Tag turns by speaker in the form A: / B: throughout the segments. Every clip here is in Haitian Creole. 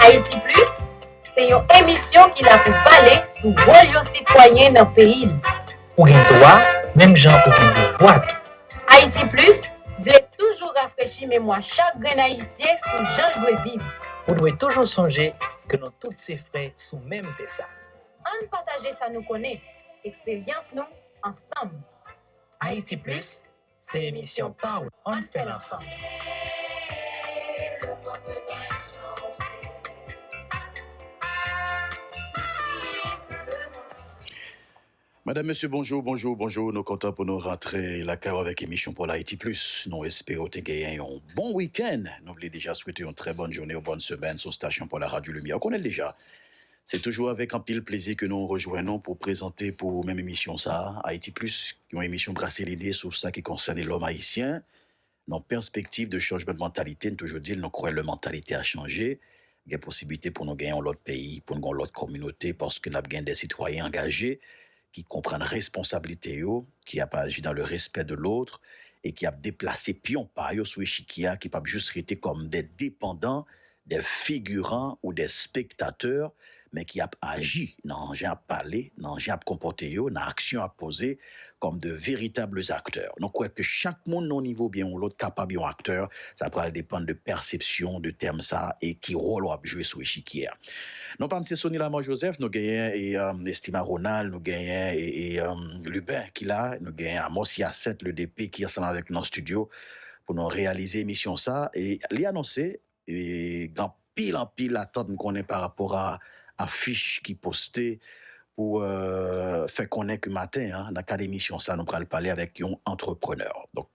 A: Haïti Plus se yon emisyon ki la pou pale sou wòl yon sitwayen nan peyi li. Ou gen dwa
B: menm jan ou gen devwa tou. Haïti
A: Plus vle toujou rafrechi memwa chak grenn Ayisyen sou jan l dwe viv. Ou dwe toujou
B: sonje ke nou tout se frè sou menm tè sa.
A: Ann
B: pataje sa nou konnen, eksperyans nou ansanm.
C: Haïti Plus, se emisyon pa w, ann fè l ansanm. Madam, Mesye, bonjou, bonjou, bonjou, nou kontan pou nou rantre lakay w avèk emisyon pa w Haïti Plus. Nou espere w te genyen yon bon wikenn. Nou vle deja swete yon trè bòn jounen, yon bòn semèn sou stasyon pa w la Radyo Limyè. Ou konnen l deja, Se toujou avèk anpil plezi ke nou rejwenn ou pou prezante pou ou menm emisyon sa a, Ayiti Plis, yon emisyon brase lide sou sa ki konsène lòm ayisyen nan pèspektiv de chanjman de mantalite, n toujou di l nou kwè lè mantalite a chanje gen posiblite pou nou gen yon lòt peyi, pou n gen yon lòt kòminote paske n ap gen de sitwayen angaje ki konprann responsablite yo, ki ap aji dans le respect de l'autre e ki ap deplase pyon pa yo sou echikye a ki pap jis rete kòm de depandan, de figiran ou de spektatè men ki ap aji nan jan y ap pale, nan jan y ap konpòte yo, nan aksyon y ap poze kòm de veritables acteurs. Nou kwè ke chak moun nan yon nivo oubyen yon lòt kapab yon aktè Sa pral depann de pèsepsyon w de tèm sa a e ki wòl w ap jwe sou echikye a. Non pa m se Sony Lamar Joseph, nou genyen Estima Ronald, nou genyen Lubin ki la, nou genyen Amos Yacet le DP ki ansanm avèk nou nan stidyo pou nou reyalize emisyon sa a. E li anonse gen anpil anpil atant m konnen pa rapò a afich ki poste pou fè konnen ke maten an nan kad emisyon sa a nou pral pale avèk yon antreprenè. Donk.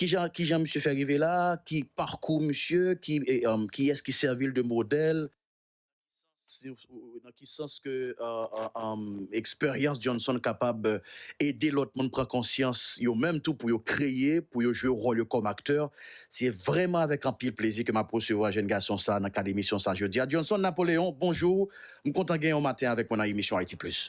C: Kijan kijan misye fè rive la, ki parkou misye, ki kiyès ki sèvi l de modèl, nan ki sans ke eksperyans Johnson kapab ede lòt moun pran konsyans yo menm tou pou yo kreye, pou yo jwe wòl yo kòm aktè. Se vrèman avèk anpil plezi ke m ap resevwa jèn gason sa nan kad emisyon sa jodi a. Johnson Napoléon, bonjou! M kontan genyen w maten avèk mwen nan emisyon Haïti Plus.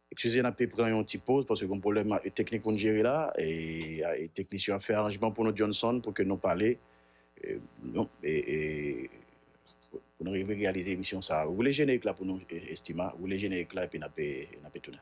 C: Ekskize n ape pran yon ti poz paske gon pwoblèm teknik pou n jere la e teknisyen yo ap fè aranjman pou nou Johnson pou ke nou pale pou nou rive reyalize emisyon sa woule jenerik la pou nou Estima woule jenerik la epi n ape tounen.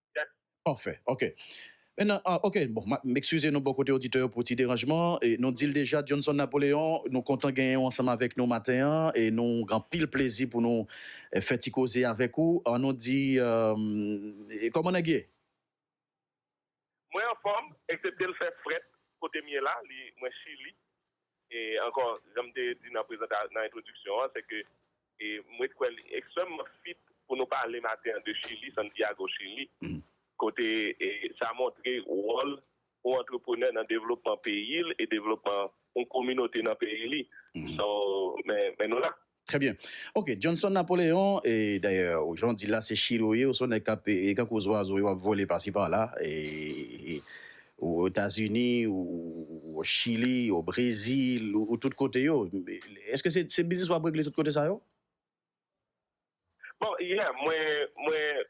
C: Pafè ok men nan ok bon map m ekskize nou bò kote oditè yo pou ti deranjman e nou dil deja Johnson Napoleon nou kontan genyen w ansanm avèk nou maten an e nou gen anpil plezi pou nou fè ti koze avèk ou an nou di kòman nèg ye?
D: Mwen anfòm, eksepte l fè frèt kote m ye la, li mwen chili. E ankò, jan m te di nan prezanta, nan entwodiksyon an, se ke m ret kwè li ekstrèmman fit pou nou pale maten an de Chili, Santiago, Chili, kote sa montre wòl yon antreprenè nan devlopman peyi l e devlopman yon kominote nan peyi li. So, men nou la. Trè byen. Ok,
C: Johnson Napoléon, e dayè ou jan w di l la se chire w ye, ou se yon nèg k ap e tankou zwazo yo ap vole pasi pala e o Etazini, ou o Chili, o Brezil, ou tout kote yo. Èske se se biznis w ap regle tout kote sa yo?
D: Bon, yè mwen mwen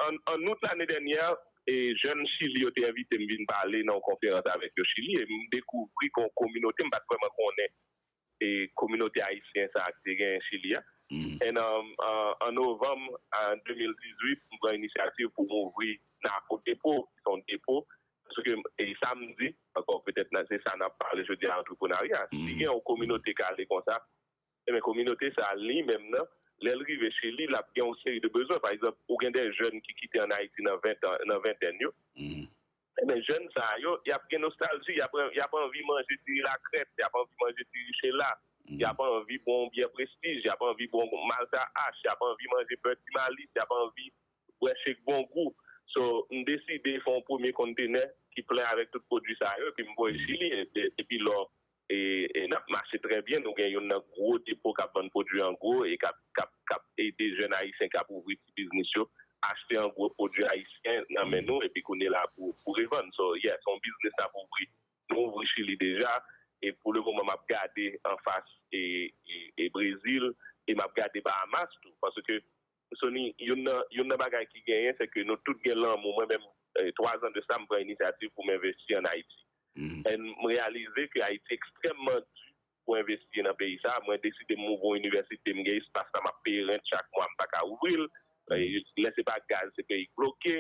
D: an an out lane dènyè e jèn Chili yo te envite m vin pale nan yon konferans avèk yo Chili e m dekouvri gen yon kominote m pa t vrèman konnen e kominote ayisyen sa te genyen Chili a. And an novanm 2018 m pran inisyativ pou m ouvri Nako Depo ki son depo paske e sa m di ankò petèt nan se sa n ap pale jodi a antreprenarya si gen yon kominote k ale konsa enben kominote sa li menm nan lè l rive Chili l ap gen yon seri de bezwen pa egzanp ou gen de jèn ki kite an Ayiti nan ventèn yo Ebyen jèn sa yo yap gen nostalji yap anvi manje diri lakrèt yap anvi manje diri chela yap anvi bwè yon byè prestij yap anvi bwè yon malta ash yap anvi manje bè ti malis yap anvi bwè shek bon gou so m deside fè yon premye konntenè ki plen avèk tout pwodwi sa yo epi m voye chili epi lò e n ap mache trè byen. Nou gen youn nan gwo depo k ap vann pwodui an gwo e k ap ede jèn ayisyen k ap ouvri ti biznis yo achte an gwo pwodui ayisyen nan men nou epi kounyela pou revann. So, yeah, se yon biznis n ap ouvri. Nou ouvri Chili deja e pou le moman m ap gade anfas Brezil e m ap gade Bahamas tou paske Sony, youn nan youn nan bagay ki genyen se ke nou tout gen lanmou. Mwen menm, 3 zan de sa, m pran inisyativ pou m envesti an Ayiti. And m reyalize ke Ayiti ekstrèmman di pou envesti nan peyi sa. Mwen deside m ouvri yon inivèsite, m gen espas la, m ap peye rent chak mwa, m pa ka ouvri l. Lè se pa gaz, se peyi k bloke.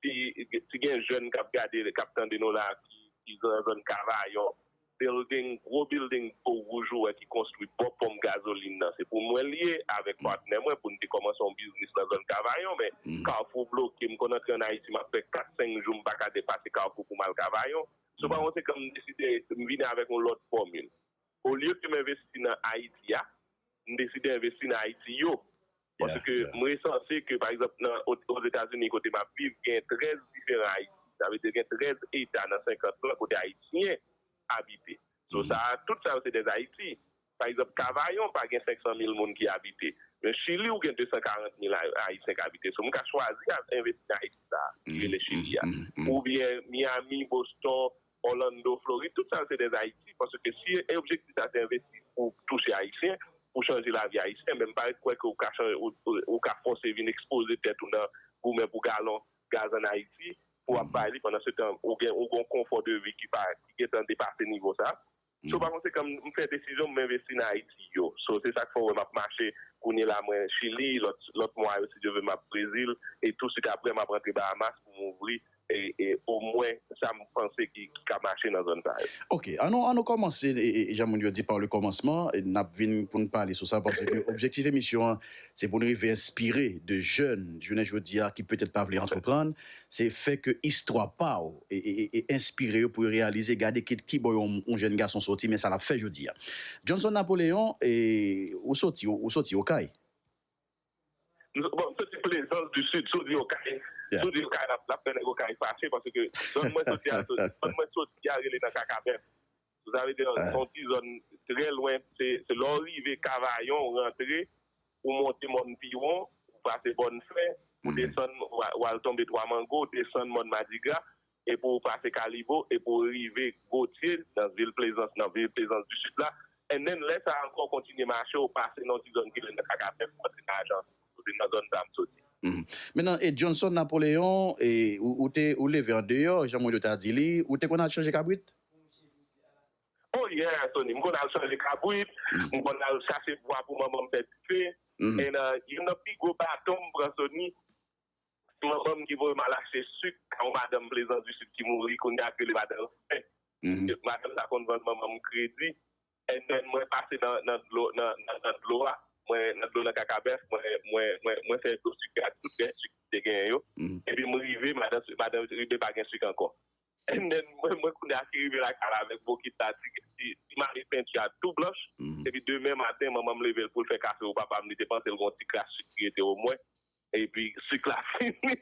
D: Si gen jèn k ap gade, k ap tande nou la ki nan zòn Kavayon, bilding, gwo bilding po wouj ou wè ki konstwi bò ponp gazolin nan, se pou mwen li ye avèk patnè mwen pou n te kòmanse yon biznis nan zòn Kavayon. Men, Kafou bloke. M konn antre ann Ayiti, m ap fè kat, senk jou m pa ka depase Kafou pou m al Kavayon. Sou pa konsekan, m deside m vini avèk yon lòt fòmil. Olye ke m envesti nan Ayiti a, m deside envesti nan Ayiti yo. Paske m resanse ke pa egzanp nan Ozetazini kote m ap viv gen 13 diferan Ayiti. Sa vle di gen 13 eta nan 50 lan kote Ayisyen abite. So sa a, tout sa yo se dè Ayiti. Pa egzanp Kavayon pa gen 500 mil moun ki abite. Men Chili ou gen 240 mil Ayisyen k abite. So m ka chwazi al envesti nan Ayiti sa a ki rele Chili a. Oubyen Miyami, Boston, Orlando Florid tout sa yo se des Ayiti paske si objektif la se envesti pou touche ayisyen pou chanje lavi ayisyen men m pa ret kwè ke ou ka fòse vin ekspoze tèt ou nan goumen pou galon gaz an Ayiti pou ap bay li pandan se tan ou gen yon konfò de vi ki pa ki gentan depase nivo sa So pa konsekan m fè desizyon pou m envesti nan Ayiti yo. So se sa k fè w wè m ap mache kounye la mwen Chili, lòt mwa yo si Dye ve m ap Brezil e tou sik aprè m ap rantre Bahamas pou m ouvri omwen sa m panse ki ka mache nan zòn sa yo. Ok, an nou
C: kòmanse jan moun yo di par le kòmansman, n ap vin pou n pale sou sa paske objektif emisyon an se pou n rive enspire de jèn jounen jodi a ki petèt pa vle antreprann, Se fè ke istwa pa w e enspire yo pou yo reyalize gade ki ki bò yon jèn gason soti men sa l ap fè jodi a. Johnson Napoléon, e ou soti ou soti Okay?
D: Bon, m soti Plaisance du Sud, si w di Okay, si w di Okay l ap fè nèg Okay fache paske zòn mwen soti a, zòn mwen soti a rele nan Kakabèf. Sa vle di se yon ti zòn trè lwen, se lè w rive Kavayon ou rantre, ou monte Mòn Piwon, ou pase Bòn Fè, ou desann w al tonbe Twa Mango, ou desann Mòn Madigra, epi ou pase Kalibo, epi ou rive Gotye, nan vil Plezans, nan vil Plezans di Sid la. And then lè sa a ankò ou kontinye mache, ou pase nan yon ti zòn ki rele Kakaben pou antre nan Ajanti. Se nan zòn sa a m soti. Mennan, e Johnson
C: Napoléon, ou te, ou leve andeyò, jan mwen yo ta di li, ou te konn al chanje kabrit?
D: Oh yeah Tony, m konn al chanje kabrit, m konn al chache bwa pou manman m fè dife, and youn nan pi gwo baton m pran Sony, se manman m ki voye m al achte suk a yon madanm Plezan di Sid ki mouri kounya ak rele madan Renmen, madanm sa konn vann manman m kredi. And then mwen pase nan dlo nan dlo a mwen nan dlo nan kakabèf mwen fè dlo sik ak tout rès sik ki te genyen yo epi m rive madan rive pa gen sik ankò and then mwen kounye a ki rive lakay la avèk bokit la ti mare penti a tou blanch epi demen maten manman m leve l pou l fè kafe ou papa m li te panse l gon ti kras sik ki rete o mwen. Epi suk la fini.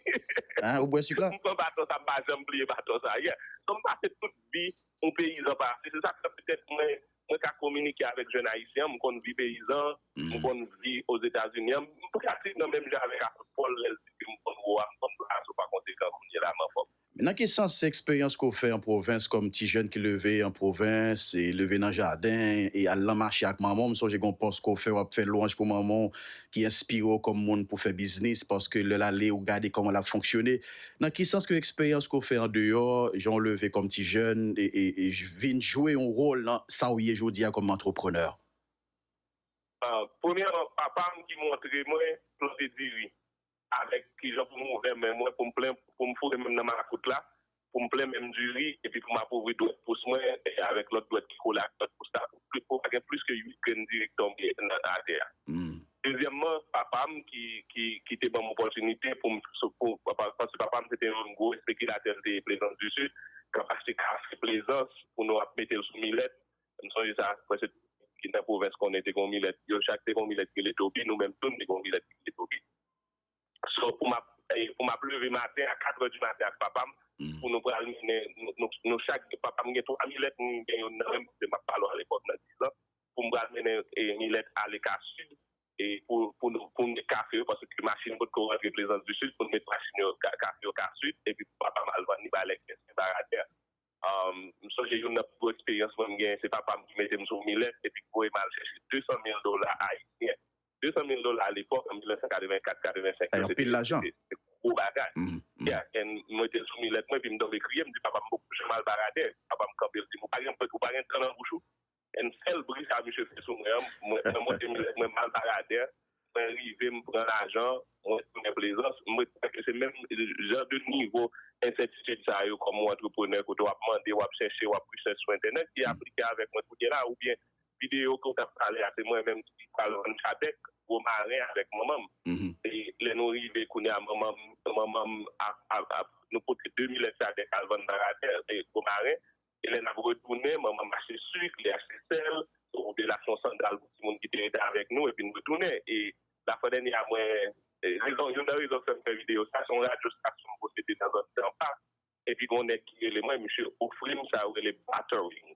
D: Hein ou bwè
C: suk la? M pran baton sa m pa janm
D: bliye baton sa yeah. So m pase tout vi yon peyizan pase se sak fè petèt mwen mwen ka kominike avèk jèn ayisyen an m konn vi peyizan m konn vi ozetazini an m pratike nan menm jan avèk apot pòl lè l di ke m konn woa m konn bra a so pa konsekan kounye la m anfòm. Men nan ki sans se
C: eksperyans ke w fè an pwovens kòm ti jèn ki leve an pwovens e leve nan jaden e al lan mache ak manman w? M sonje gen yon pòs ke w fè w ap fè lwanj pou manman w ki enspire w kòm moun pou fè biznis paske lè l ale ou gade kòman l ap fonksyone. Nan ki sans ke eksperyans ke w fè an deyò, jan w leve kòm ti jèn e vin jwe yon wòl nan sa w ye jodi a kòm antreprenè? Premyèman
D: papa m ki montre mwen plante diri. avèk kijan pou m ouvè men mwen pou m plen pou m foure men m nan makout la pou m plen men m diri epi pou m ap ouvri dwèt pous mwen avèk lòt dwèt ki kole ak dwèt pous la pou pa gen plis ke 8 grenn diri ki tonbe nan atè a Dezyèmman, papa m ki te ban m opòtinite pou m paske papa m se te yon gwo espekilatè l te ye Plezans di Sid k ap achte kafe Plezans pou nou ap mete l sou milèt M sonje sa, mwen se ki nan pwovens konnen te gen yon milèt, yo chak te gen yon milèt ki rele Toby, nou menm tou n te gen yon milèt ki rele Toby. So pou m ap pou m ap leve maten a katrè di maten ak papa m pou nou pral mennen nou nou chak papa m gen twa milèt m gen youn nan men m paske m ap pale w alepòk nan dizan pou m pral mennen milèt ale ka sid e pou pou nou pou m met kafe yo paske machin potko rantre plezans di sid pou n met machin yo kafe yo ka sid epi pou papa m al vann li bay lèk pès li bay atè. M sonje youn nan pi gwo eksperyans mwen m gen, se papa m ki mete m sou milèt epi ki voye m al chèche 200 mil dola ayisyen. 200 mil dola alepòk, an 1984-85, yo se
C: te gwo bagay.
D: Ya, e m mete l sou milèt mwen epi m tonbe kriye, m di papa m m poko janm al Baradè. Papa m kanpe, l di m, ou pa gen tan nan bouch ou? An sèl bri sa misye fè sou mwen an, mwen monte milèt mwen m'al Baradè, mwen rive m pran lajan, mwen tounen Plezans, m ret kwè ke se menm jan de nivo ensètitid sa yo kòm ou antreprenè kote w'ap mande, w'ap chèche, w'ap research sou entènèt ki aplike avèk mwen kounye la oubyen videyo ke w t'ap pale a se mwen menm ki pral vann chadèk gwo maren avèk manman m. E lè nou rive kounye a manman m, manman m ap, nou pote 2 milèt chadèk al vann Baradè e gwo maren e lè n ap retounen, Mama mache suk, li achte sèl, yon belas, yon sandal pou timoun ki te rete avèk nou, epi n retounen. E zafè dènye a mwen, rezon, youn nan rezon ki fè m fè videyo sa, se yon radyo stasyon m posede nan zòn Tampa, epi gen yon nèg ki rele mwen, misye ofri m sa yo rele battering.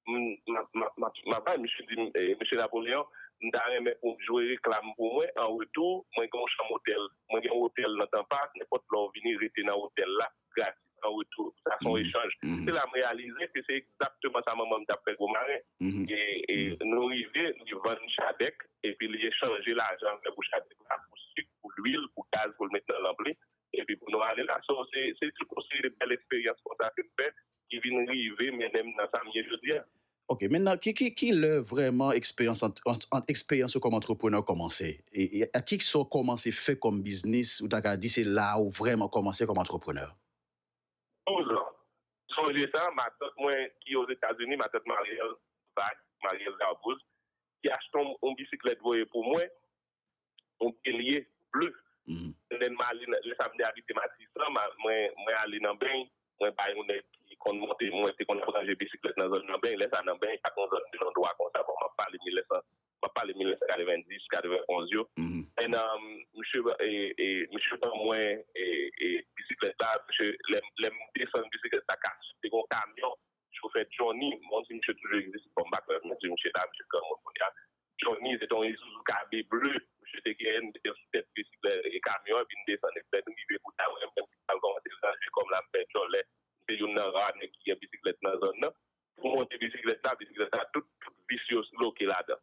D: M, m ap, m ap bay, misye di m, Mesye Napoleon, m ta renmen pou w jwe reklam pou mwen, an retou, mwen gen yon chanm otèl, mwen gen yon otèl nan Tampa, nenpòt lè w vini rete nan otèl la. gratis an retou. Sa son echanj. Se la m reyalize ke se egzakteman sa manman m t ap fè Gwomarin. E nou rive li vann chadèk epi li echanje lajan l fè pou chadèk la pou sik, pou lwil, pou gaz pou l met nan lanp li epi pou nou ale la. So se tout yon seri de bèl eksperyans konsa ke m fè ki vin rive mennen m nan sa m ye jodi a. Ok, men nan
C: ki lè vrèman eksperyans ant eksperyans ou kòm antreprenè kòmanse? E ki sa ou kòmanse fè kòm biznis ou ta ka di se la ou vrèman kòmanse kòm antreprenè? 12
D: ans. Sonje sa, matant mwen ki Ozetazini, matant Mariel Zack, Mariel Darbouz, ki achte yon bisiklèt voye pou mwen, yon kelye ble. Lè m ale, lè sa m te abite Matisan, mwen ale nan Beny, mwen bay yon nèg ki konn monte, mwen te konn ap ranje bisiklèt nan zòn nan Beny. Lè sa nan Beny, pa t yon zòn de londwa konsa, bon m ap pale 1990, 91 yo. E nan, misye ban mwen bisiklèt la, misye, lè m desann bisiklèt la, te gen yon kamyon Chofè Johnny, mwen di misye toujou egziste bon m pa kwè men di misye la, misye granmoun kounya. Johnny se te yon Isuzu Cabe ble misye te genyen, li mete l sou tèt trisik e kamyon an vin desann epi lè nou rive kote a mwen menm m pral kòmanse ranje kò m la m fè djòlè. M se youn nan ra nèg ki gen bisiklèt nan zòn nan. Pou m monte bisiklèt la, bisiklèt la tout vis yo loke ladan.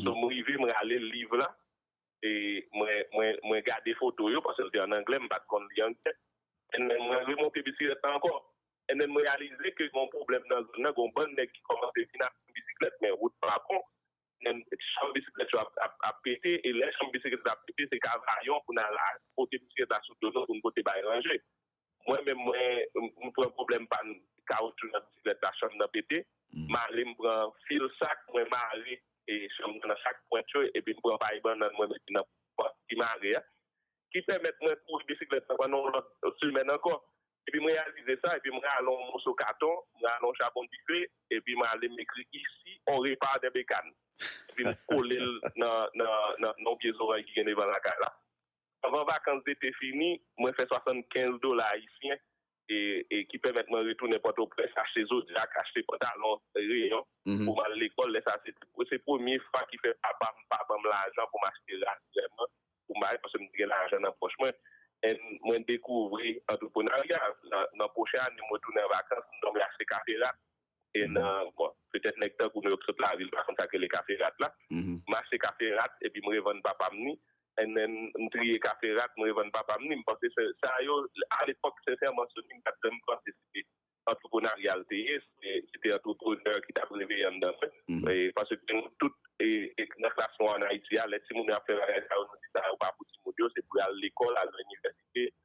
D: So m rive m rale liv la, mwen gade foto yo, paske l te an anglè, m pa t konn li anglè. Ennen mwen remonte bisiklèt la ankò. Ennen m reyalize ke gen yon pwoblèm nan zòn nan, gen yon bann nèg ki kòmanse vin ak yon bisiklèt, men wout pa bon. Ennen chanm bisiklèt yo ap pete, e lè chanm bisiklèt ap pete, se ka vayon pou n al pote bisiklèt la sou do nou pou n pote bay ranje. Mwen menm mwen m pran pwoblèm pann kawoutchou nan bisiklèt la chanm nan pete, m ale m pran fil sak mwen mare chanm nan nan chak pwent yo epi m pran pay bannann mwen mete nan pòt ki mare a ki pèmèt mwen kouri bisiklèt la pandan yon lòt semèn ankò. Epi m reyalize sa epi m rale yon moso katon, m rale yon chabon dife epi m ale m ekri isi on repa dè bekan epi m kole l nan yon pye zoranj ki gen devan lakay la. Anvan vakans dete fini, mwen fè 75 dola ayisyen e ki pèmèt mwen retounen Pòtoprens, achte zodiak, achte pantalon reyon pou m al lekòl. Lè sa a, se premye fwa ki fè papa m pa ban m lajan pou m achte rad vrèman pou m bay paske m te gen lajan nan pòch mwen. And mwen dekouvri antreprenarya. Nan pwochen ane mwen tounen an vakans, m donk m achte kafe rad. e nan bon petèt nèg tankou nou yo ki sot lavil pa konn sa k rele kafe rat la m achte kafe rat epi m revann papa m ni NN m triye kafe rat m revann papa m ni m panse se sa yo alepòk sensèman Sony m pa t janm panse se te antreprenaryal l te ye se te antreprenè ki t ap reveye anndan mwen paske nou tout nan klas nou an Ayiti a lè timoun yo ap fè bagay sa yo nou di sa yo pa pou timoun yo se pou yo al lekòl al nan inivèsite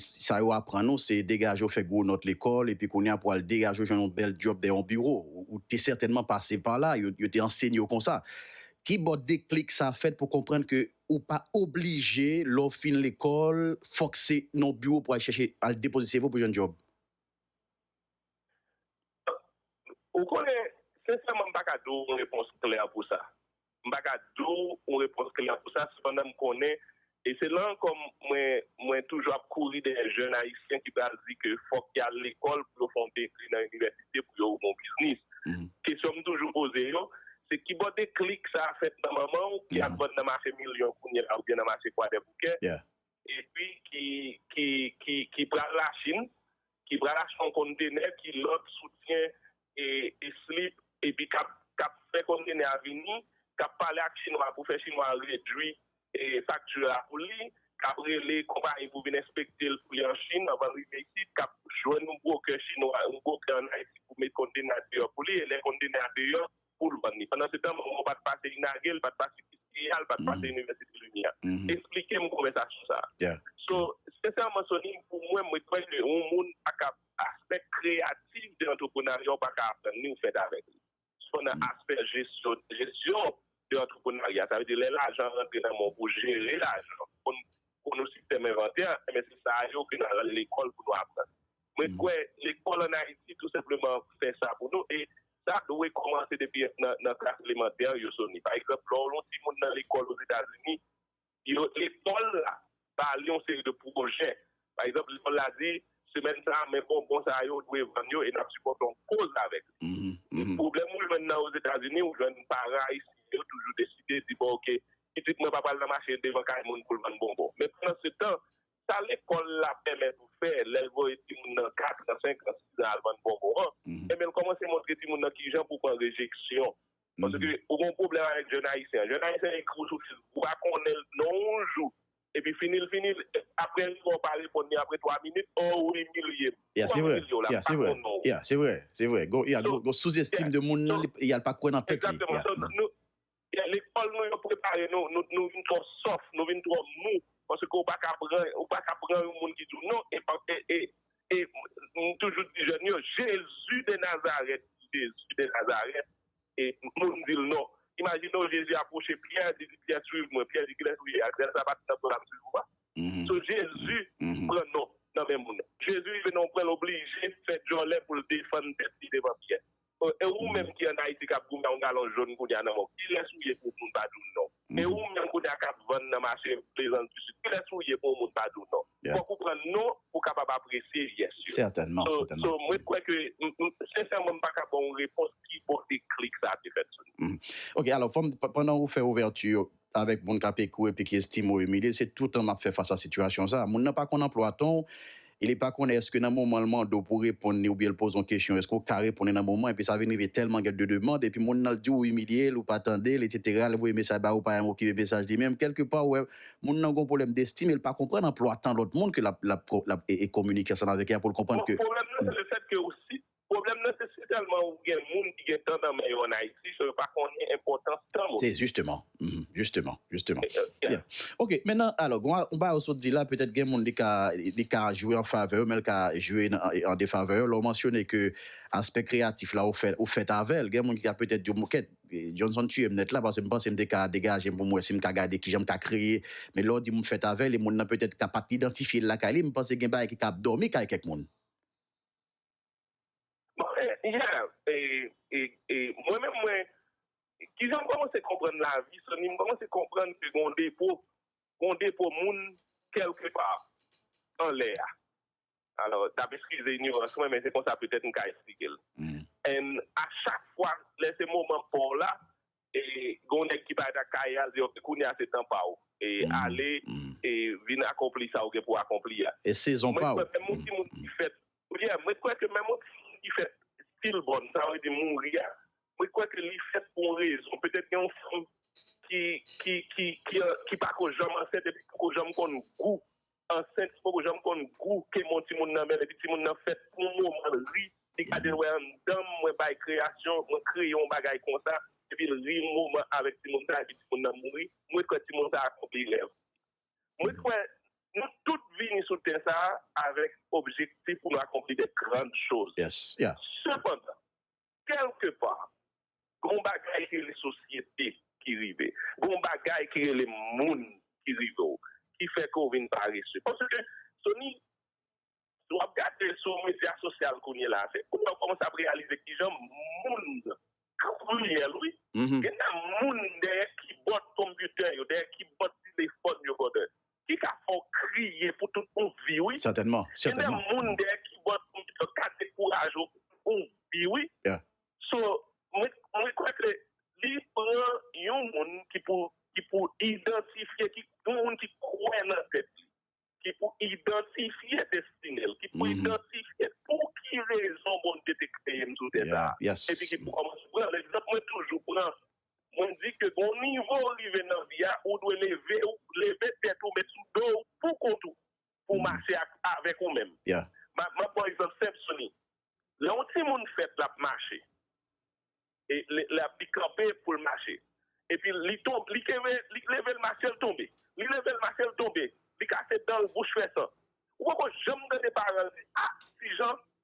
C: Sa yo aprann ou se degaje w fè gwo nòt lekòl epi kounye a pou al degaje w jwenn yon bèl dyòb dèyè yon biwo. Ou te sètènman pase pa la, yo te ansenye w konsa. Ki bò deklik sa fèt pou w konprann ke ou pa oblije lè w fin lekòl fòk se nan yon biwo pou w al chèche, al depoze seve w pou jwenn dyòb?
D: Ou konnen, sensèman m pa ka di w yon repons klè pou sa. M pa ka di w yon repons klè pou sa, sepandan m konnen, e se la ankò mwen toujou ap kouri dèyè jèn ayisyen ki pral di ke fòk y al lekòl pou yo fè yon degre nan inivèsite pou yo ouvri yon biznis. Kesyon m toujou poze yo, se ki bò deklik sa a fèt nan manman w ki ap vann nan mache Milyon kounyela oubyen nan mache Kwadèboukè, epi ki pral Lachin, ki pral achte yon konntenè ki lòd soutyen e slip epi k ap fè konntenè a vini, k ap pale ak Chinwa pou fè Chinwa a redui fakti a pou li, k ap rele konpayi pou vin enspekte l pou li an Chin anvan l rive isit, k ap jwenn yon brokè Chinwa, yon brokè ann Ayiti pou met konntenè a deyò pou li e lè konntenè a deyò, pou l vann li. Pandansetan, Manman w pa t pase inage, l pa t pase UCA, l pa t pase Inivèsite Limyè. Esplike m konvèsasyon sa a. So, sensèman Sony, pou mwen, mwen kwè ke yon moun pa ka aspè kreyatif de antreprenarya ou pa ka aprann li ou fèt avèk li. Sou nan aspè jesyon, jesyon de antreprenarya, sa vle di lè lajan rantre nan men w pou w jere lajan, pou w konn yon sistèm envantè, enben se sa yo ke n al lekòl pou nou aprann. Mwen kwè lekòl an Ayiti tou senpleman fè sa pou nou e sa dwe kòmanse depi nan klas elemantè yo Sony. Pa egzanp, lè w yon timoun nan lekòl Ozetazini, lekòl la ba li yon seri de pwojè. Pa egzanp, lekòl la di, semèn sa a, men bonbon sa yo, ou dwe vann yo e n ap sipòte yon koz avèk li. Pwoblèm ou jwenn nan Ozetazini, ou jwenn paran ayisyen yo toujou deside di, bon, oke, pitit mwen pa pral nan mache devan kay moun pou l vann bonbon. Men pandansetan, Sa lekòl la pèmèt ou fè lè l voye timoun nan katran, senkan, sizan al vann bonbon an, enben l kòmanse montre timoun nan kijan pou w pran rejeksyon. Paske ou gen yon pwoblèm avèk jèn ayisyen an. Jèn ayisyen an ekri w sou Facebook, ou pa konnen l non yon jou. Epi fini l fini l, aprè li wè w pa reponn li aprè 3 minit, o ou imilye m. Ya se vre, ya
C: se vre, ya se vre, se vre. Gon souzestim de moun nan, ya l pa kwè nan tèt li. Egzakteman, so nou,
D: Lekòl nou yo prepare nou, nou vin twò sòf, nou vin twò mou, paske ou pa ka pran, ou pa ka pran yon moun ki di w non, e pa, e, e, m toujou di jèn yo, Jezi de Nazarèt, Jezi de Nazarèt, e moun di l non. Imajine w Jezi apwoche Pyè, li di Pyè swiv mwen, Pyè di kilès ou ye a, grès la pa t nan do a m swiv ou a. So Jezi pran non nan men moun. Jezi rive nan yon pwen l oblije fè djòlè pou l defann tèt li devan Pyè. E ou menm ki an Ayiti kap goumen yon galon jón kounya nan mòg, kilès ou ye pou moun pa di w non? E ou menm kounya kap vann nan mache Plezans du Sud, kilès ou ye pou yon moun pa di w non? Fòk ou pran non pou w kapab apresye yes yo. So,
C: mwen kwè ke,
D: sensèman m pa ka ba w yon repons ki bò deklik sa a te fèt sou nou. Ok, alò fò m,
C: pandan ou fè ouvèti yo, avèk moun k ap ekri w epi ki estime w imilye, se toutan m ap fè fas a sitiyasyon sa a. Moun nan pa konn anplwa tan w e li pa konnen èske nan moman l mande w pou w reponn li oubyen l poze w yon kesyon èske w ka reponn li nan moman epi sa vin rive tèlman gen de demand epi moun nan l di w ou imilye l ou pa tande l eksetera l voye mesaj ba ou pa janm okipe mesaj li menm kèlke pa ou wè moun nan gen yon pwoblèm destime e l pa konprann anplwa tan lòt moun ke l ap kominike
D: ansanm
C: avèk li
D: a pou l
C: konprann
D: ke. Pwoblèm
C: nan se
D: sitèlman ou gen moun ki gen tan nan men yo an Ayiti so yo pa konnen enpòtans tan moun. Se jisteman,
C: jisteman, jisteman. Byen. Ok, mennan alò gen yon bagay ou sot di la petèt gen moun li ka li ka jwe an favè yo men li ka jwe an defavè yo lè ou mansyone ke aspè kreyatif la ou fè ou fèt avè l gen moun ki ka petèt di w bon kèt Johnson tuye m nèt la paske m panse m te ka degaje m pou m wè si m ka gade kijan m ka kreye men lè w di m ou fèt avè l e moun nan petèt ka pa t idantifye l lakay li m panse gen bagay ki ka ap dòmi kay kèk moun.
D: Mwen menm mwen, kijan m kòmanse konprann lavi, Soni, m kòmanse konprann ke gen yon depo, gen yon depo moun kèlke pa anlè a. Alò, n ap eskize inyorans mwen, men se konsa petèt m ka esplike l. A chak fwa, lè se moman pa w la, Gon nèg ki pale ak Kayal di ok kounye a se tan paw e ale e vin akonpli sa ou gen pou akonpli a. E sezon paw. Mwen
C: kwè menm yon ti moun ki
D: fèt yeah mwen kwè ke menm yon ti moun ki fèt still bon sa vle di mouri a mwen kwè ke li fèt pou yon rezon petèt gen yon fanm ki ki ki ki pako janm ansent epi poko janm konn gou ansent li poko janm konn gou ke mon timoun nan menm epi timoun nan fèt pou moman l ri li gadel wè anndanm mwen bay kreyasyon mwen kreye yon bagay konsa epi l ri moman avèk timoun sa epi timoun nan mouri mwen kwè timoun sa akonpli rèv mwen kwè nou tout vini sou tè sa avèk objektif pou nou akonpli de grand choz
C: sepandan.
D: Kèlke pa, gon bagay ki rele sosyete ki rive. Gon bagay ki rele moun ki rive w, ki fè ke w vin parese. Paske, Sony, si w ap gade sou medya sosyal kounye la, se kounye a ou kòmanse ap reyalize ki jan moun kriyèl wi. Gen tan moun dèyè kibòd konpitè yo, dèyè kibòd telefòn yo, brother. Li ka fè w kriye pou tout yon vi wi. Sètènman, sètènman. Gen de
C: moun
D: dèyè kibòd moun sa yo ka dekouraje w pou yon vi wi. Yeah. So, mwen kwè ke li pran yon moun ki pou ki pou idantifye ki yon moun ki kwè nan tèt li, ki pou idantifye destine l, ki pou idantifye pou ki rezon Bondye te kreye m sou tè sa a. Yeah, yes. Epi ki pou kòmanse
C: pran
D: l. Egzanp mwen toujou pran Mwen di ke gon nivo ou rive nan vi a, ou dwe leve ou, leve tèt ou, met sou do ou pou kont ou, pou mache ak, avèk ou menm. M ap ba w
C: egzanp
D: senp, Sony. Lè yon timoun fèt l ap mache, e lè ap li kanpe pou l mache, epi li tonbe, li kenbe, li leve l mache l tonbe, li leve l mache l tonbe, li kase dan l, bouch fè san. Ou poko janm tande paran l di, a, Tijan,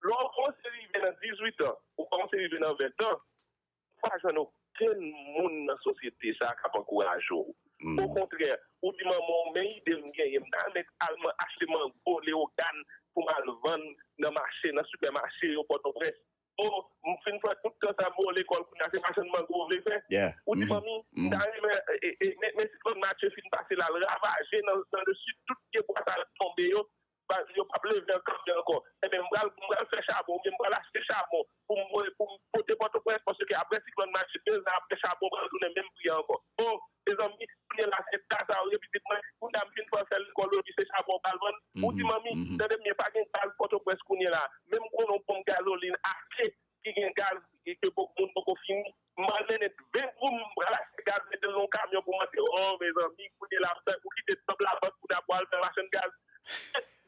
D: Lè w kòmanse rive nan dizuitan, ou kòmanse rive nan ventan, ou pa jwenn okenn moun nan sosyete sa a k ap ankouraje w. Okontrè, ou di manman w, men ide m genyen, m ta renmen al achte mango, lewogàn pou m al vann nan mache, nan sipèmache yo Pòtoprens. O, m fin fè tout tan sa m o lekòl kounye a, se machann mango m vle fè. Ou di manmi, m ta renmen, men siklòn Matye fin pase la, l ravaje nan lesid, tout pyebwa sa yo tonbe yo, Baz, yo pap leve an kanpe ankò. Enben, m pral, m pral fè chabon oubyen m pral achte chabon pou m voye, pou m pote Pòtoprens paske aprè siklòn Matye, de zan aprè chabon pral tounen menm pri a ankò. O, mezanmi, kounye la se ta sa ou ye pitit mwen, kounye a m fin fè w fè lekòl oji se chabon ou pral vann? Ou di manmi, tande byen, pa gen gaz Pòtoprens kounye la, men m konnen w pou m gazolin ase ki gen gaz e ke poko moun poko fini. M pral mennen 20 goud m pral achte gaz mete l nan yon kamyon pou monte oo mezanmi kounye la m tank ou kite tanp labank pou ta pou al fè machann gaz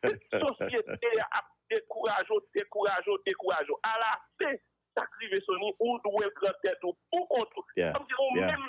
D: tout sosyete a ap dekouraje w dekouraje w dekouraje w ala fen sak rive Sony ou dwe pran tèt ou pou kont ou tanm di ou menm.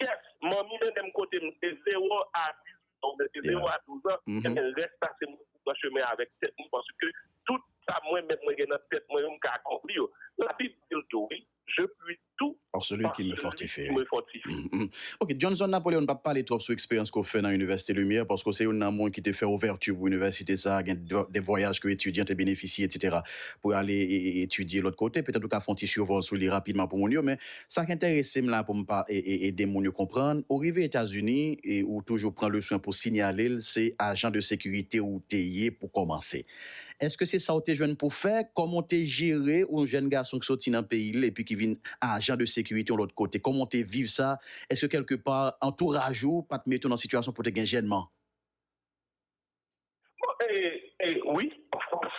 D: Yes manmi mennenm kotem se 0 a 18 ans oubyen se 0 a 12 ans ebyen rès la se mwen ki pran chemen avèk tèt mwen paske tout sa mwen menm mwen gen nan tèt mwen yo m ka akonpli yo la bib dil tou wi je puis tout par
C: celui qui me fortifie
D: ok Johnson
C: Napoléon pap pale twòp sou eksperyans ke w fè nan Université Lumière paske w se youn nan moun ki te fè ouvèti pou inivèsite sa gen de vwayaj ke etidyan te benefisye etc pou yo ale etidye lòt kote petèt ou ka fè yon ti survol sou li rapidman pou moun yo men Sak entèresem la poum pa ede moun yo konprann ou rive etazini ou toujou pran leswen pou sinyalel se ajan de sekirite ou te ye pou kòmanse eske se sa ou te jwenn pou fè kòman ou te jere yon jèn gason ki soti nan peyil epi ki vin ajan de sekirite yon lòt kote kòman ou te viv sa eske kèlke pa antouraj ou pat mete ou nan sitiyasyon pou te gen jènman. Bon
D: e e wi of course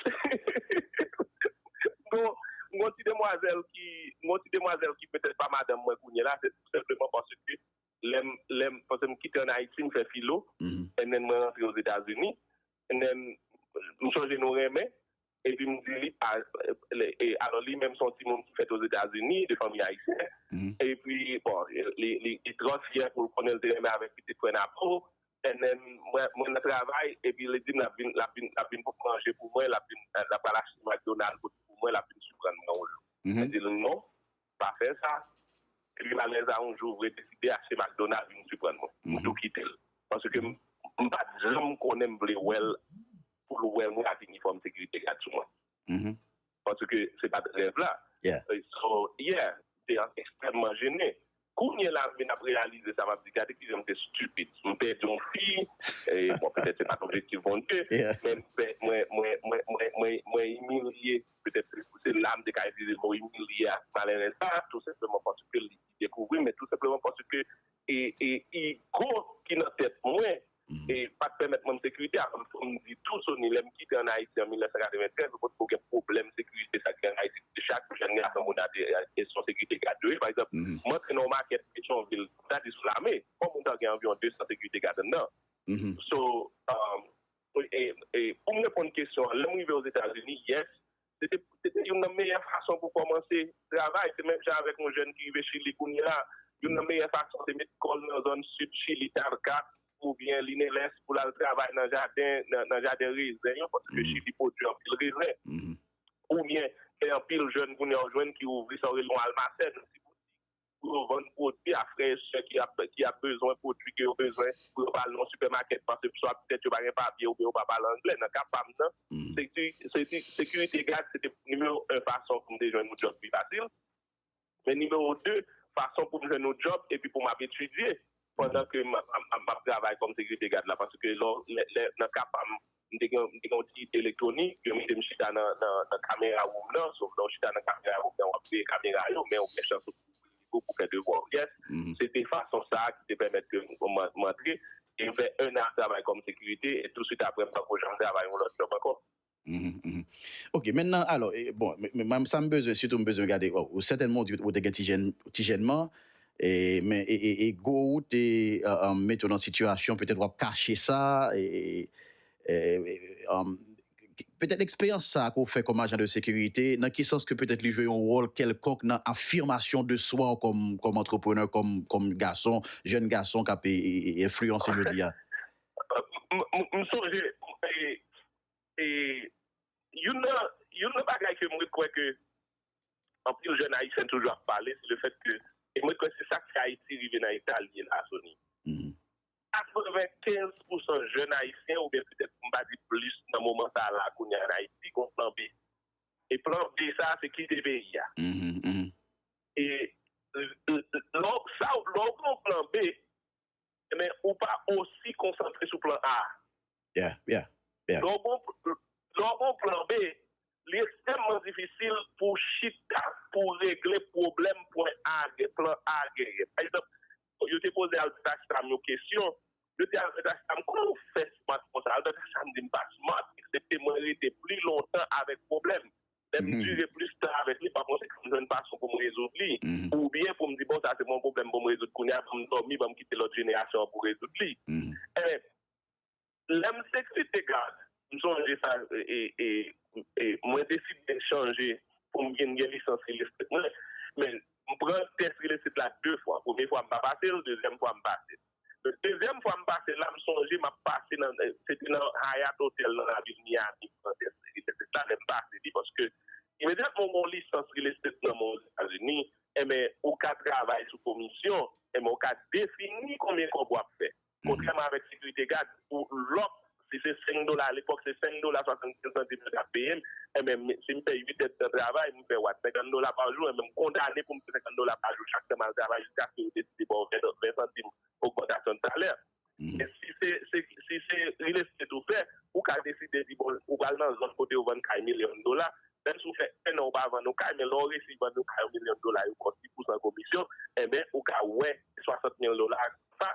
D: Gon gon ti demwazèl ki gon ti demwazèl ki petèt pa madanm mwen kounye la se tou senpleman paske lèm lèm paske m kite an Ayiti m fè filo and then mwen rantre Ozetazini and then m chonje nou renmen Epi m di li, alò li menm se yon timoun ki fèt Ozetazini, de fanmi ayisyen, epi bon, li trò fyè pou l konnen l te renmen avèk pitit frè n Apo, NN, Mwen nan travay, epi li di m l ap vin bout manje pou mwen, l ap pral achte McDonald pou mwen, l ap vin siprann mwen yon jou. Mwen di l non. Pa fè sa, epi malèz a yon jou vre deside achte McDonald vin siprann mwen. M tou kite l. Paske m pa t janm konnen m vle wè l pou l wè mwen ak inifòm sekirite gad sou mwen. Paske se pa t rèv la. So, yeah, m te ekstrèmman jene. Kounye la m vin ap reyalize sa m ap di, gade ki jan m te stupid. M pèdi yon fi, bon petèt se pa t objektif Bondye, men mwen imilye. Petèt se pou se la m te ka itilize mo imilye a malerèz sa a, tou senpleman paske li dekouvri m, men tou senpleman paske igo ki nan tèt mwen pa t pèmèt mwen m sekirite. Avan m fini, m di tou Sony, lè m kite ann Ayiti an 1993, m potko gen pwoblèm sekirite sa gen ann Ayiti, kote chak jenn gason moun ap gen son sekirite gad yo ye. Pa egzanp, m antre nan yon makèt Petyonvil, m ta di sou Lame, on moun ta gen anviwon 200 sekirite gad anndan. So. Pou m reponn kesyon an, lè m rive Ozetazini, yes, se te youn nan meyè fason pou kòmanse travay. Se menm jan avèk yon jèn ki rive Chili kounye a, youn nan meyè fason se met kò l nan zòn sid Chili, Talca oubyen Lineles, pou l al travay nan jaden, nan jaden rezen yo, paske Chili pwodui anpil rezen. Oubyen, gen anpil jèn kounye a ou jwenn ki ouvri sa yo rele yon almacen, yon ti boutik, pou yo vann pwodui a frè e sè ki ap bezwen pwodui ke yo bezwen pou yo pa al nan yon sipèmakèt paske swa petèt yo pa gen papye oubyen yo pa pale angle. Nan ka pa m nan, sekirite gad se te nimewo 1 fason pou m te jwenn yon djòb pi fasil, men nimewo 2 fason pou m jwenn yon djòb epi pou m ap etidye. Pandan ke m ap travay kòm sekirite gad la, paske lò, lè, nan ka pa m, m te gen, m te gen yon ti elektwonik, yo mete m chita nan, nan, nan kamera woum nan, sof lè w chita nan kamera woum nan, w ap veye kamera yo, men ou gen chans ou pou w fè devwa w, yes. Se te fason sa a ki te pèmèt ke m antre, e m fè 1 an ap travay kòm sekirite, e tousuit aprè m pa ko janm travay yon lòt jòb ankò.
C: Ok men nan alò bon men sa m bezwen sitou m bezwen gade bon ou sètènman ou di ou te gen ti jèn ti jènman e men e e ego ou te mete w nan sitiyasyon petèt w ap kache sa e e petèt eksperyans sa ke w fè kòm ajan de sekirite nan ki sans ke petèt li jwe yon wòl kèlkonk nan afimasyon de swa w kòm kòm antreprenè kòm kòm gason jèn gason k ap e e enfliyanse jodi a? M sonje e
D: Youn nan bagay ke mwen kwè ke anpil jèn ayisyen toujou ap pale se le fèt ke e mwen kwè se sa k fè Ayiti rive nan eta li ye la Sony. 95 pou san jèn ayisyen oubyen petèt pou m pa di plis nan moman sa a la kounye a an Ayiti gon plan B. E plan B sa a se kite peyi a. E lè w gon plan B, men ou pa osi konsantre sou plan A. Yeah, yeah, yeah. Lè w gen yon, lè w gen yon plan B, li ekstrèmman difisil pou w chita pou w regle pwoblèm pwen A gen, plan A genyen. Pa egzanp, yo te poze Albert Ashram yon kesyon, yo di Albert Ashram, kouman ou fè smart konsa? Albert Ashram di m pa smart, eksepte mwen rete pli lontan avèk pwoblèm. Lè m dire plis tan avèk li, pafwa se pou m jwenn fason pou m rezoud li. Oubyen pou m di, bon, sa se pa yon pwoblèm pou m rezoud kounye a, ban m dòmi, ban m kite lòt jenerasyon an pou rezoud li. Enben, lè m seksi te gad, m sonje sa e mwen deside chanje pou m vin gen lisans ril estet mwen. Men, m pran tès ril estet la de fwa. Premye fwa m pa pase l, dezyèm fwa m pase l. Dezyèm fwa m pase la, m sonje m ap pase nan, se te nan Hyatt Hotel nan lavil Miami, m pran tès real estate la, lè m pase li, paske imedyatman ou gen yon lisans real estate nan men w Ozetazini, enben, ou ka travay sou komisyon, enben, ou ka defini konbyen kòb w ap fè. Kontrèman avèk sekirite gad, pou lòk si se 5 dola alepòk se 5 dola 75 santim yo t ap peye m, enben si m fè 8 èdtan travay m fè wat 50 dola pa jou enben m kondane pou m fè 50 dola pa jou chak tan m al travay jiskaske yo deside ba w 20 santim ogmantasyon de salè. Men si se si se real estate ou fè ou ka deside di bon ou pral nan zòn kote yo vann kay milyon dola menm si w fè 1 an ou pa vann yon kay men lè w resi vann yon kay yon milyon dola yo ba w ti pousan komisyon enben ou ka wè 60 mil dola sa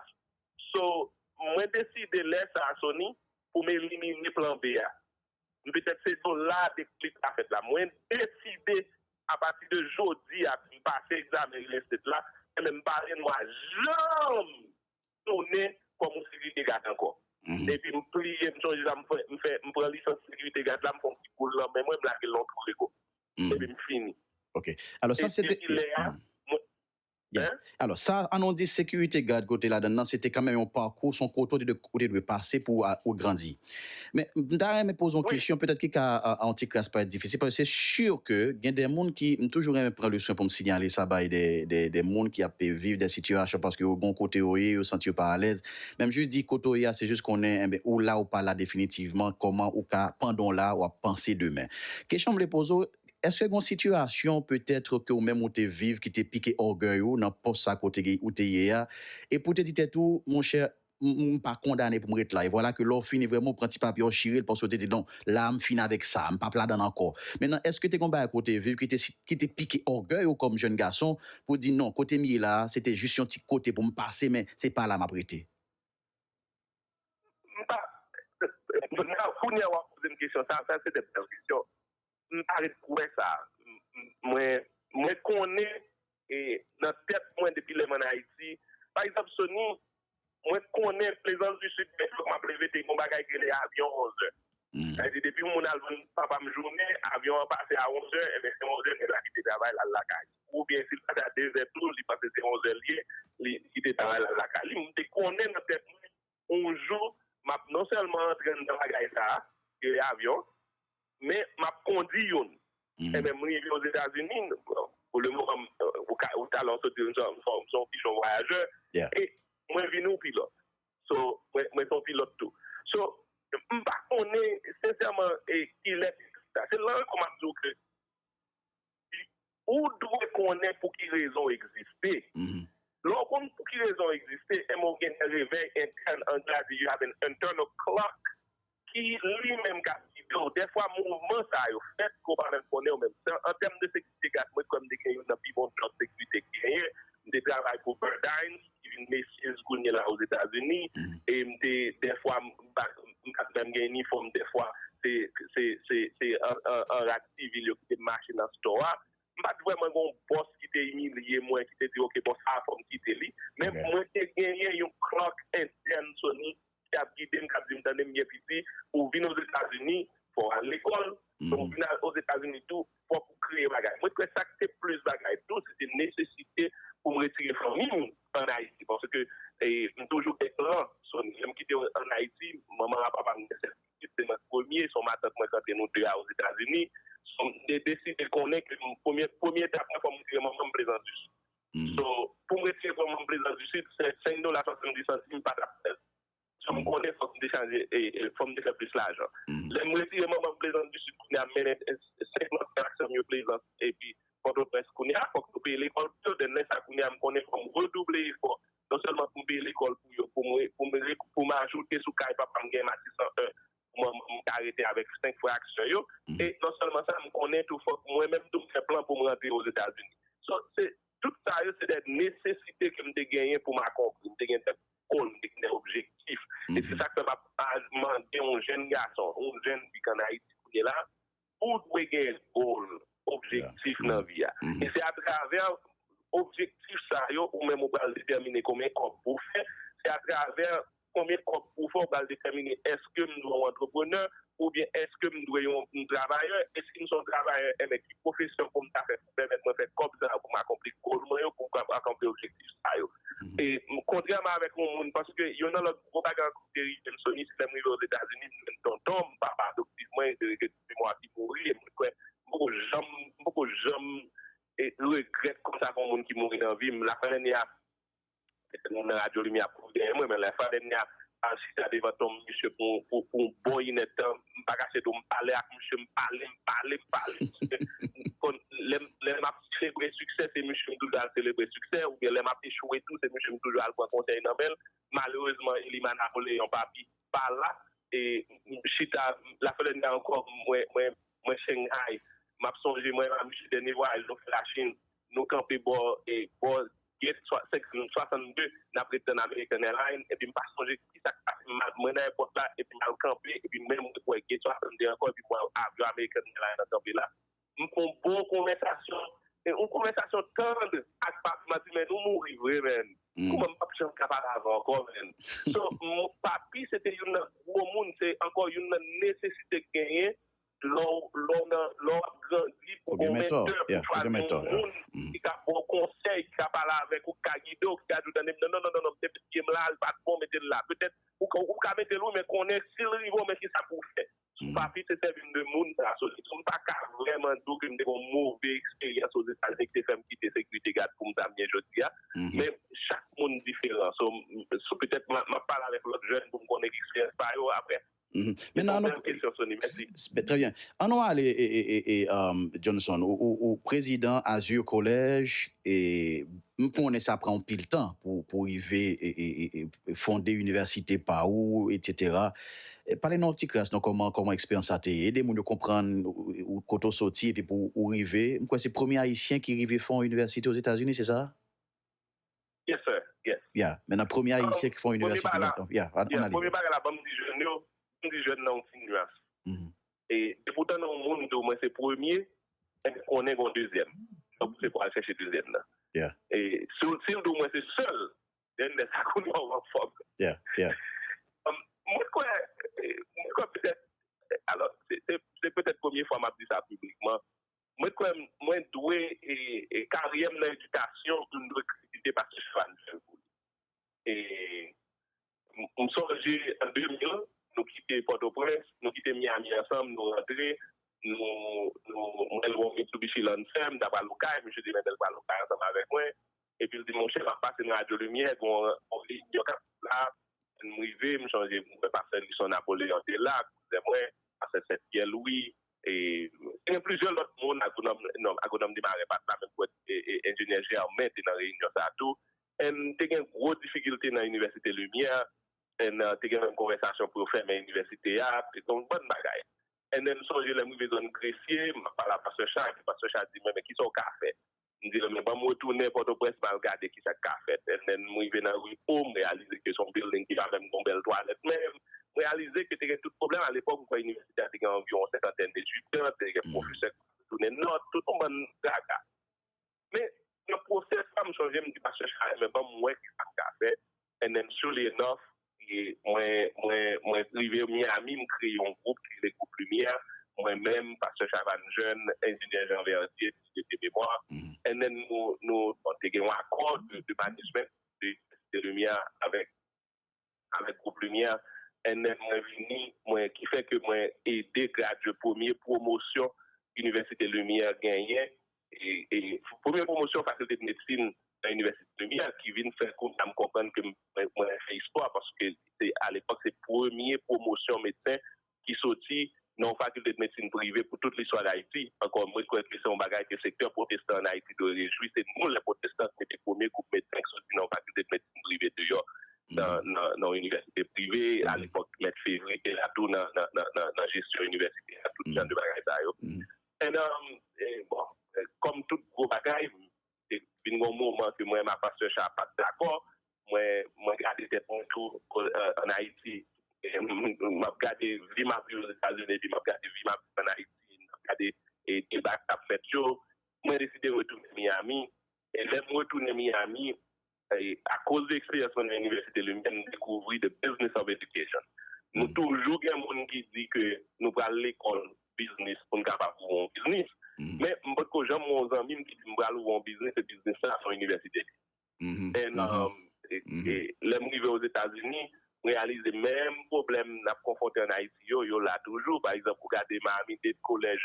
D: So, mwen deside lè sa a, Sony, pou m elimine plan B a. M petèt se do la deklik la fèt la. Mwen deside apati de jodi a si m pase egzamen real estate la, enben m pa renwa janm tounen kòm yon sekirite gad ankò. Epi m pliye, m sonje sa m fè, m fè, m pran lisans sekirite gad la, m fè yon ti boul nan men mwen, m lage l nan yon twou lego. Epi m fini. Ok. Alò sa
C: se te. Depi lè a, mwen. Yeah. Alò, sa a nou di sekirite gad ke w te ladan l lan, se te kanmenm yon pakou, se yon kote ou te dwe, ou te dwe pase pou ou grandi. Men, m ta renmen poze yon Wi. kesyon, petèt ki ka yon ti kras parèt difisil, paske se si ke gen de moun ki, m toujou renmen pran le swen pou m sinyale sa bay de, de, de moun ki ap viv de sitiyasyon paske yo gen yon kote yo ye, yo santi yo pa alèz. Men m jis di kote w ye a, se jis konnen, enben, ou la ou pa la definitivman, kòman ou ka, pandan w la, w ap panse demen. Kesyon m vle poze w, Eske gon sitiyasyon peut-être ke ou menm ou te viv ki te pike ògèy ou nan pòs sa kote ke ou te ye a, epi ou te di tèt ou, mon chè, m pa kondane pou m ret la, e vwala ke lè w fini vrèman ou pran ti papye a w chire l paske ou te di non, la a m fini avèk sa a, m pap ladann ankò. Mentnan, eske te gon bagay ke w te viv ki te ki te pike ògèy ou kòm jèn gason pou w di non, kote m ye la a, se te jis yon ti kote pou m pase men se pa la m ap rete? M
D: pa, kounye a w ap poze m kesyon sa a, sa se de bèl kesyon. m ta ret pou wè sa. Mwen konnen nan tèt mwen depi lè m an Ayiti, pa egzanp Sony, mwen konnen Plezans di Sid gen jou m ap leve te gen yon bagay ki rele avyon onzè. Sa vle di depi yon moun al jwenn papa m jounen, avyon an pase a onzè, enben se onzè nèg la kite travay l al lakay. Oubyen si l pase a dezè tou, li panse se onzè l ye, li kite travay l al lakay li. Mwen te konnen nan tèt mwen yon jou m ap non sèlman antre anndan bagay sa a, ki rele avyon, men m ap kondi youn. Enben, m rive Ozetazini, pou le moman, ou ta lè w soti, m son yon pijon vwayajè, e mwen vin yon pilòt. So, mwen se yon pilòt tou. So, m pa konnen sensèman kilè, se lan an tou m ap di w ke, Ou dwe konnen pou ki rezon w egziste. Lè w konn pou ki rezon w egziste, enben w gen yon revèy entèn, anglè a di you have an internal clock, ki li menm k ap gide w. Dèfwa mouvman sa yo fèt ke w pa menm konnen ou menm. An tèm de sekirite, gad mwen kwè m te gen youn nan pi bon djòb sekirite ki genyen. M te travay pou Burdines. ki vin Macy's kounye la Ozetazini e m te dèfwa m pa t menm gen inifòm dèfwa se an rad sivil yo ki te mache nan stò a m pa t vrèman gen yon bòs ki te imilye mwen ki te di ok bon sa a fò m kite li men mwen te genyen yon clerk entèn Sony ki ap gide m, k ap di m tande m gen piti, pou w vin Ozetazini, fò w al lekòl, lè w vin Ozetazini tou, fòk ou kreye bagay. Mwen kwè sa k te plis bagay tou, se te nesesite pou m retire fanmi m ann Ayiti, paske m toujou gen plan, Sony. Lè m kite yo ann Ayiti, manman ak papa m gen sèt pitit, se mwen k premye, se yon matant mwen k antre nou de a Ozetazini. Son m te deside konnen ke premye etap mwen fò m retire manman m prezanjis. So, pou m retire kò m an Plezans di Sid, 5 dola 70 santim pa t ap fè l. San m konnen fò k m te chanje, fò m te fè plis lajan. Lè m retire m an bank Plezans di Sid kounye a m mennen 5 lòt frè ak sè m yo Plezans epi Pòtoprens kounye a, fò k nou peye lekòl pou yo. Den, lè sa kounye a m konnen fò m redouble efò non sèlman pou m peye lekòl pou yo, pou m ajoute sou kay papa m gen Matisan 1, mwen m ka rete avèk 5 fwa aksyon yo e non sèlman sa m konnen tou fòk mwen menm tou m fè plan pou m rantre ozetazini so se tout sa yo se de nesesite ke m te genyen pou m akonpli m te gen de gòl m te gen de objektif e se sa k fè m ap mande yon jenn gason yon jenn fi k an ayiti kounye la Ou dwe gen goal, objektif nan vi a. E se atravè objektif sa yo ou menm ou pral detèmine konbyen kòb pou w fè. Se atravè konbyen kòb pou w fè ou pral detèmine èske m dwe yon antreprenè oubyen èske m dwe yon travayè. E si m se yon travayè, enben ki pwofesyon pou m ta fè. pèmèt mwen fè kòb sa yo pou m akonpli goal mwen yo, pou m kapab akonpli objektif sa yo. E kontrèman avèk yon moun, paske yon nan lòt gwo bagay ankò ki te rive m, Sony, se lè m rive Ozetazini, m jwenn tonton m, papa adoptif mwen, se rete tout memwa ki mouri, e mwen kwè m poko janm, m poko janm regrèt konsa pou yon moun ki mouri nan vi m. Lafenlane a, Moun nan radyo limyè ap kouri dèyè mwen, men lè Frè Edna al chita devan tonm misye pou yon bon inèd tan, m pa kache di w m pale ak misye, m pale, m pale, m pale. Lè m ap selebre siksè se misye m toujou al selebre siksè oubyen lè m ap echwe tou se misye m toujou al pran konsèy nan men l. Malerezman Elima Napoleon Papi pa la e m chita la Frè Edna ankò mwen Shanghai m ap sonje mwen la misye dènye vwayaj nou fè Lachin. Nou kanpe bò bò gate 62 nap ret tann American Airlines epi m pa sonje kisa k pase m mwen nan èpòt la epi m al kanpe epi menm mwen wè gate 62 ankò epi m wè avyon American Airlines an kanpe la. M fon bon konvèsasyon yon konvèsasyon tandr ak papi m ap di men nou mouri vre menn kouman m pap janm ka pale avè w ankò menn so papi se te youn nan gwo moun se ankò youn nan nesesite k genyen Lè w ap grandi, ou gen mentò. Ou gen mentò, ya. Ou gen yon moun ki ka ba w konsèy, ki ka pale avèk ou, ki ka gide w, ki ka di w, tande m, non, non, non, se pitit m la, li pa t bon, mete l la. Petèt, ou ka mete l wi, men konnen si l rive w men kisa pou w fè. Si w pa pito sèvi m de moun sa a, sou di, m pa ka vrèman di w ke m te gen yon move eksperyans Ozetazini ki te fè m kite sekirite gad pou m sa m ye jodi a. Men, chak moun diferan. So, petèt m ap pale avèk lòt jèn pou m konnen eksperyans pa yo. Aprè, Mèt nan annou
C: trè byen annou ale e Johnson ou prezidan azur kolèj e m konnen sa pran anpil tan pou rive e fonde inivèsite pa ou etc pale nou ti kras nou kòman kòman eksperyans sa te ye ede moun yo konprann ou kote ou soti epi pou ou rive m kwè se premye ayisyen ki rive fon inivèsite ozetazini se sa?
D: Yes sir, yes. Yeah, men nan premye
C: ayisyen ki fè yon inivèsite nan Kanp. Yeah, an ale.
D: Premye bagay la banm di jèn yo, banm di jèn nan yon ti nuans. E depoutan nan yon moun di w mwen se premye, enben konnen gen yon dezyèm. Donk se pou al chèche dezyèm nan. Yeah.
C: E si w
D: di w mwen se sèl, den lè sa kounye a w an fòm. Yeah, yeah.
C: Mwen kwè,
D: mwen kwè petèt, alò se petèt premye fwa m ap di sa piblikman, Mwen kwè mwen dwe karyè m nan edikasyon m dwe kritike paske chwa li fèl pou li. M sonje an 2000 nou kite Pòtoprens, nou kite Miami ansanm nou rantre nou mwen lwe yon Mitsubishi Lancer m ta pral okay misye te mèt el pral okay ansanm avèk mwen epi l di m monchè m ap pase nan radyo limyè gen yon reyinyon k ap fèt la lè m rive m chonje m wè pastè Lison Napoleon te la kouzè mwen pastè Sèt Pyè Lwi e te gen plizyè lòt moun agwonòm non agwonòm Desmarest pa t la men m kwè enjenyè Germain te nan reyinyon sa a tou èn te gen gwo difikilte nan inivèsite limyè èn te gen menm konvèsasyon pou yo fèmen inivèsite a te gen yon bann bagay èn m sonje lè m rive zòn gresye m ap pale a pastè Chat epi pastè Chat di mwen men kisa w ka fè M di l, men ban m retounen Pòtoprens m al gade ki sa k ka fèt. Lè m rive nan ri O, m reyalize ke se yon bilding ki pa menm gen yon bèl twalèt. Men, m reyalize ke te gen tout pwoblèm. A lepòk, m kwè inivèsite a te gen anviwon yon senkantèn etidyan, te gen pwofesè ki te retounen nòt, tout yon bann gaga. Men, nan pwosè sa, m chonje m di pastè Charlin, men ban m wè ki sa m ka fè and then surely enough mwen rive Miami m kreye yon gwoup ki rele Gwoup Limyè, mwen menm, Pastè Chavanne Jeune, Enjenyè Jean Verdier, si se te memwa, and then nou te gen yon akò de management de Site Limyè avèk Gwoup Limyè, and then mwen vini, mwen ki fè ke mwen ede gradye premye pwomosyon Inivèsite Limyè genyen Premye pwomosyon fakilte de medsin nan inivèsite Lumi a ki vin fè kounya m konprann ke mwen fè istwa paske se alepòk se premye pwomosyon medsen ki soti nan yon fakilte de medsin prive pou tout listwa Dayiti. Ankò mwen kwè ke se yon bagay ke sektè pwotestan an Ayiti dwe rejwi. Se nou lè pwotestan ki mete premye gwoup medsen ki soti nan yon fakilte de medsin prive deyò nan yon inivèsite prive. Alepòk mèt Fevre te la tou nan jesyon inivèsite a, tout jan de bagay sa yo. Endan, bon, kòm tout gwo bagay, te vin gen yon moman ke mwen ak Pastè Sha pa t dakò. Mwen, mwen gade tèt mwen tou ann Ayiti, m ap gade vi m ap viv Ozetazini epi m ap gade vi m ap viv ann Ayiti, m ap gade deba k ap fèt yo. Mwen deside retounen Miami. E lè m retounen Miami, Akoz de eksperyans mwen nan Inivèsite Limyè, m dekouvri the business of education. Nou toujou gen moun ki di ke nou pral lekòl biznis pou n kapab ouvri yon biznis. Men, m pa t ko janm wè yon zanmi m ki di m pral ouvri yon biznis e biznis sa a se yon inivèsite. E lè m rive Ozetazini, m reyalize menm pwoblèm n ap konfwonte ann Ayiti yo, yo la toujou. Pa egzanp, ou gade Miami-Dade College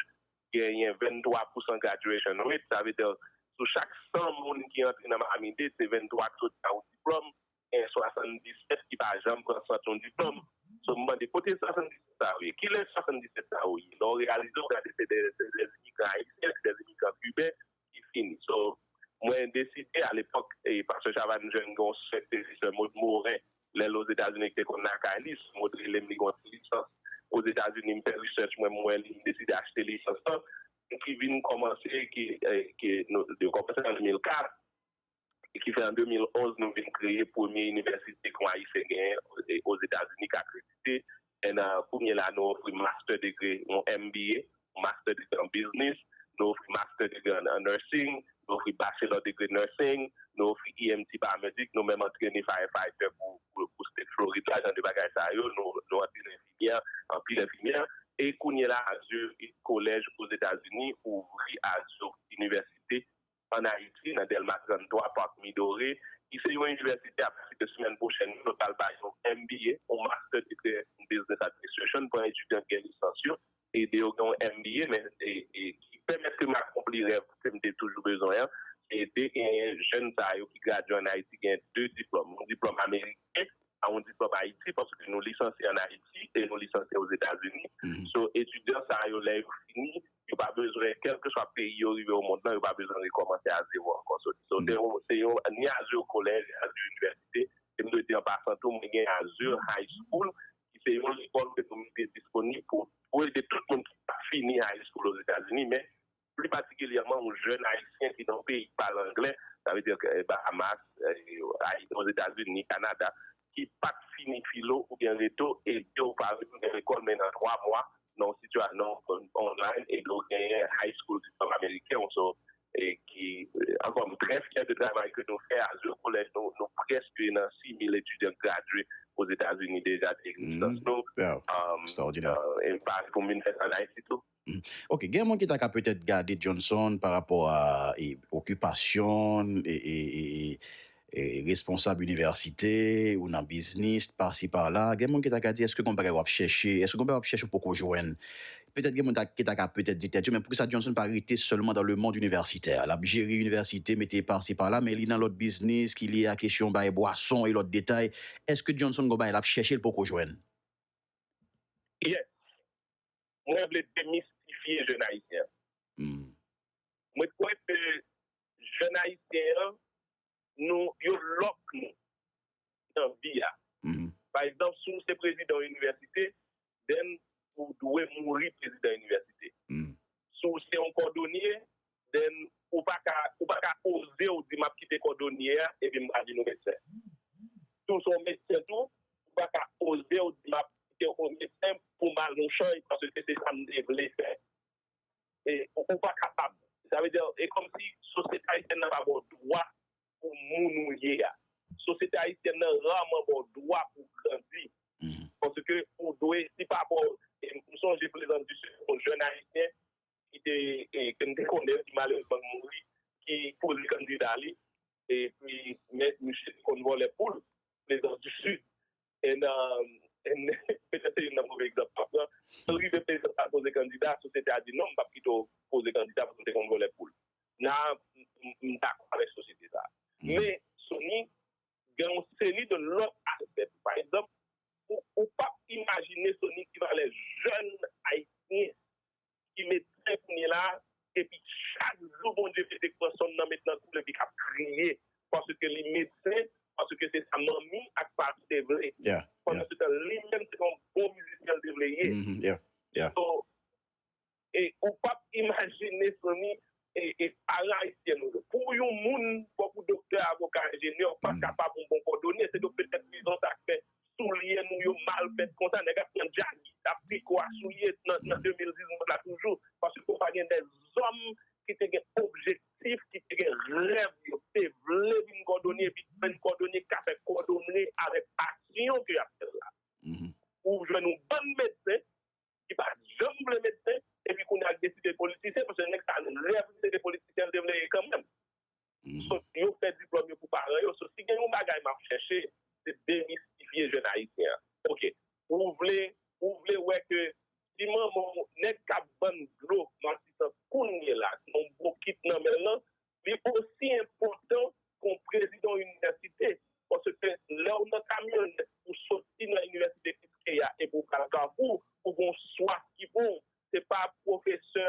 D: genyen 23 pousan graduation rate, sa vle dire sou chak 100 moun ki antre nan Miami Dade se 23 ki soti ak yon diplòm, genyen 77 ki pa janm pran sant yon diplòm. So m mande kote 77 sa yo ye? Kilè 77 sa yo ye? Lè w reyalize w gade se dè imigran ayisyen, se dè imigran kiben, ki fini so mwen deside a lepok e pastè chavay m jwenn gen yon sè ki te di sè maude morin lè l ozetazini ki te konn lakay li sè maude rele m li gen yon ti lisans ozetazini m fè research mwen m wè li m deside achte lisans lan m ki vin kòmanse ki nou kòmanse an 2004. e ki fè an 2011 nou vin kreye premye inivèsite ke yon Ayisyen genyen Ozetazini ke akredite, and kounye la nou ofri master degree, yon MBA, master degree an business, nou ofri master degree an nursing, nou ofri bachelor degree nursing, nou ofri EMT paramedic, nou menm antrene firefighter pou state Florid la, jan de bagay sa yo, nou antrene enfimyè, anpil enfimyè, e kounye la Azur College Ozetazini ouvri Azur Université ann Ayiti, nan Dèlma 33, Parc Midore, ki se yon inivèsite apatide semèn pwochèn yo, nou pral bay yon MBA, yon Master Degree in Business Administration, pou etidyan ki gen lisans yo, ede yo gen yon MBA, men ki pèmèt ke m akonpli rèv ke m te toujou bezwen an, se ede genyen jèn sa yo ki gradye ann Ayiti genyen 2 diplòm, yon diplòm ameriken ak yon diplòm Ayiti, paske nou lisansye ann Ayiti e nou lisansye Ozetazini, so etidyan sa yo lè yo fini, yo pa bezwen, kèlkeswa peyi yo rive omond lan, yo pa bezwen rekòmanse a zewo ankò. So, se yon ni Azur College, Azur Université, e m dwe di an pasan tou, mwen gen Azur High School, ki se yon lekòl ke nou mete disponib pou ede tout moun ki pa fini high school Ozetazini, men pli patikilyèman yon jèn Ayisyen ki nan yon peyi ki pale angle, sa vle di Bahamas, Ozetazini, Kanada, ki pa t fini filo oubyen reto, ede ou pa retounen lekòl, men nan 3 mwa, nan yon sitiyasyon online epi ou genyen high school diplome ameriken ou so e ki ankò m trè fyè de travay ke nou fè as yon kolèj nou prèske nan 6000 etidyan k gradye ozetazini deja de egzistans nou e m
C: pa pou
D: m vin fè sa an ayiti tou. Ok gen moun ki
C: ta ka petèt gade Johnson pa rapò a okipasyon e responsab inivèsite ou nan biznis pasi pala gen moun ki ta ka di èske gon bagay wap chèche èske gon bagay wap chèche ou poko jwenn petèt gen moun ta ki ta ka petèt di tèt yo men poukisa Johnson pa rete sèlman dan le mond inivèsitè lap jere inivèsite mete pasi pala men li nan lòt biznis ki lye a kesyon bay bwason e lòt detay èske Johnson gon bagay lap chèche li poko jwenn? Yes
D: mwen vle demistifye jèn ayisyen an mwen kwè ke jèn ayisyen an nou yo lòk nou nan vi a pa egzanp si w se prezidan yon inivèsite den ou dwe mouri prezidan inivèsite si w se yon kòdonye den ou pa ka ou pa ka oze ou di m ap kite kòdonye a epi m pa vin medsen si w se yon medsen tou ou pa ka oze ou di m ap kite yon medsen pou m al yon chay paske se sa m te vle fè ou pa kapab. Sa vle di, e kòmsi sosyete ayisyèn nan pa ba w dwa pou moun ou ye a. Sosyete ayisyèn nan raman ba w dwa pou w grandi. Paske ou dwe, si pa ba w, m sonje Plezan di se yon jèn ayisyen ki te, ke m te konnen, ki malerezman mouri, ki poze kandida li, epi men misye te konn vòlè poul, Plezan di Sid. And and petèt se youn nan move egzanp map pran, so li te peze pa poze kandida, sosyete a di non m pap kite w poze kandida paske w te konn vòlè poul. Nan m dakò avèk sosyete sa. Men Sony gen yon seri de lòt aspè tou. Pa egzanp, ou pap imajine Sony ki valè jèn ayisyen ki medsen kounye la epi chak jou Bondye vle te pran sòm nan met nan koul epi k ap kriye paske li medsen paske se sa manmi ak papi te vle pandan se tan li menm se yon bon mizisyen l te vle ye so ou pap imajine fanmi e paran ayisyen nou yo. Pou yon moun, fò pou doktè, avoka, enjenyè, ou pa kapab yon bon kòdonye, se donk petèt rezon sa k fè soulye nou yo mal fèt konsa, nèg ap pran djagi, ap piko a soulye nan 2019 la toujou, paske fò pa gen dè zòm ki te gen objektif, ki te gen rèv yo, ki te vle vin kòdonye, epi ki vin kòdonye, ki ka fè kòdonye avèk pasyon ke y ap fè l la. Ou jwenn yon bann medsen, ki pa janm vle medsen epi kounya ak deside politisyen paske nèg sa yo rèv li se te politisyen li te vle ye kanmenm. Sot yo fè diplòm yo pou paran yo. So si gen yon bagay map chèche se demistifye jèn ayisyen an. Ok ou vle ou vle wè ke si manman w nèg kap vann dlo matisan kounyela se yon bokit nan men l lan li osi enpòtan ke w prezidan yon inivèsite, paske lè w nan kamyonèt pou w soti nan inivèsite Kiskeya e pou w pral Kafou, ou gen yon swaf ki pran w, se pa pwofesè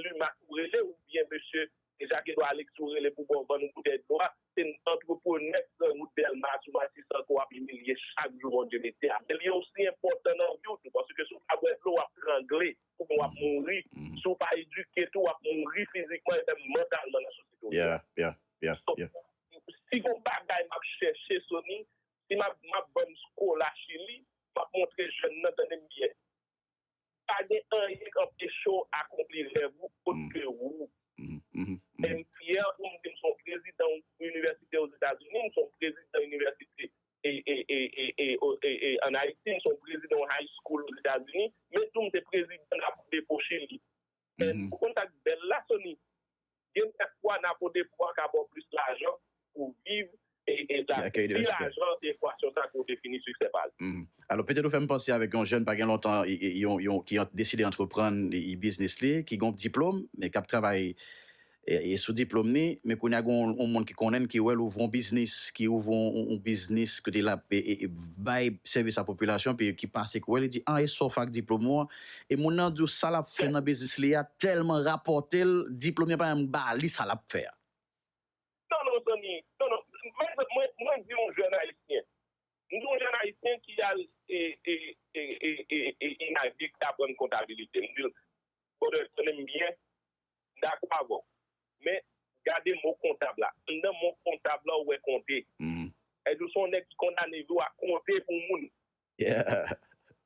D: Lumax ou rele oubyen mesye Jacques Edouard Alexis ou rele pou ban w boutèy dlo a, se antreprenè ki pran wout Dèlma sou Matisan ke w ap imilye chak jou, bondye mete a. Men li osi enpòtan nan vi w tou, paske si w pa bwè dlo w ap trangle. Kouman w ap mouri, si w pa edike tou w ap mouri fizikman e menm mantalman nan sosyete w ye a. So, si gon bagay m ap chèche Sony, si m ap m ap vann skola Chili, m ap montre jèn nan tande m byen, pa gen anyen k anpeche w akonpli rèv ou ot ke wou. E m fyè pou m di m s on prezidan yon inivèsite Ozetazini, m s on prezidan inivèsite an Ayiti, m se yon prezidan yon high school Ozetazini, men tou m se prezidan Napo-Depo Chili. Ou konn sa k bèl la, Sony? Gen kèk fwa Napo-Depo a ka ba w plis lajan pou w viv e pi lajan se ekwasyon sa a ke w defini siksè pa li. Alò, petèt ou
C: fè m panse avèk yon jèn pa gen lontan ki deside antreprann biznis li, ki gen yon diplome men k ap travay E sou diplom ni, men kounye a gen yon moun ki konnen n, ki wè l ouvri yon biznis, ki ouvri yon biznis kote l ap bay sèvis a popilasyon epi ki pase ki wè l, li di, an e sa w fè ak diplom ou an? E moun nan di w sa l ap fè nan biznis li a tèlman rapòte l, diplom li an pa menm ba li sa l ap fè a. Non non
D: zanmi, non non. Pa egzanp, mwen di yon jèn ayisyen, m di yon jèn ayisyen ki al inavik, ki aprann kontabilite, m di l, brother, tande m byen, dakò avè w. Men, gade mo kontab la. Anndan mo kontab la ou wè konte. Èske w se yon nèg ki kondane vi w a konte pou moun?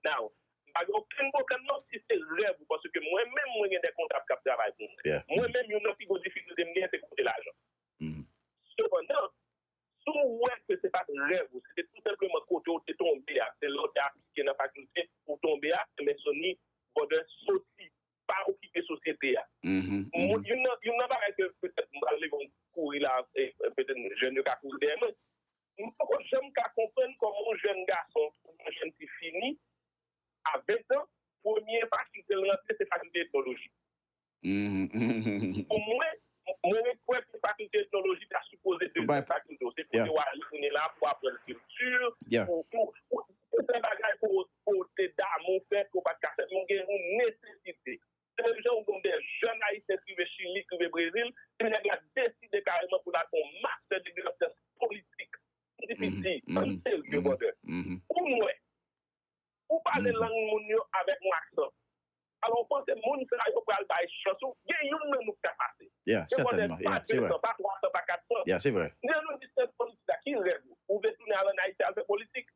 D: Now, m pa gen okenn pwoblèm non si se rèv ou paske mwen menm mwen gen de kontab k ap travay pou mwen. Mwen menm youn nan pi gwo difikilte m genyen se konte lajan. Sepandan, si w wè ke se pa t rèv ou, se te tou senpleman kote w te tonbe a, se la w te aplike nan fakilte pou w tonbe a, enben Sony Brothers soti pa okipe sosyete a. Youn nan bagay ke petèt m pral leve m kouri la, petèt jèn yo ka kouri dèyè mwen, m poko janm ka konprann kòman yon jèn gason oubyen yon jèn fi fini a 20 tan, premye fakilte l rantre se fakilte etnoloji. Pou mwen, Mwen kwè ke fakilte etnoloji ta sipoze de fè sa pito. Se kote w a retounen la pou w aprann kilti, pou fè bagay ke w te damou fè, ke w pat ka fè. Men gen yon nesesite. Se menm jan ou gen de jèn Ayisyen ki rive Chili, ki rive Brezil, ke nèg la deside kareman pou l al fè yon mastè degre nan syans politik. Mwen di piti, ann serye brother. Pou mwen, Ou pale lang moun yo avèk yon aksan. Alò ou panse moun sa yo pral bay chans ou gen youn nan nou ki ka pase. Se vòlè pa
C: 2 san, pa 3 san, pa 4 san.
D: Nan yon distans
C: kon
D: sa ki rèv ou? Ou vle tounen al an Ayiti al fè politik?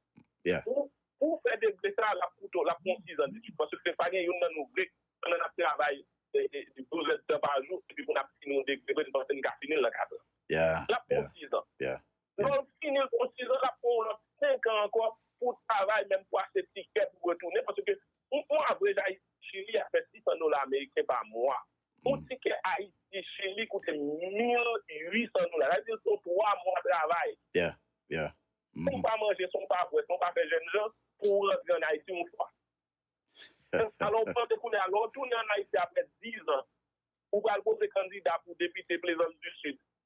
D: Pou w fè degre sa a, l ap koute w, l ap pran w 6 an detid. Paske pa gen youn nan nou vle pandan n ap travay 12 èdtan pa jou epi pou n ap fini yon degre vre n panse n ka fini l nan 4 an. L ap pran w 6 an. Lè w fini l pou sizan, l ap pran w lòt senkan ankò pou w travay menm pou achte tikè pou w retounen. Paske yon avrej Ayiti-Chili a fè 600 dola ameriken pa mwa. Yon tikè Ayiti-Chili koute 1.800 dola. Sa vle di se yon 3 mwa travay. Si w pa manje, si w pa bwè, si w pa fè jèn jan, pou w rantre ann Ayiti yon fwa. Alò w panse kounye a, lè w tounen ann Ayiti apre dizan, ou pral poze kandida pou depite Plaisance du Sud,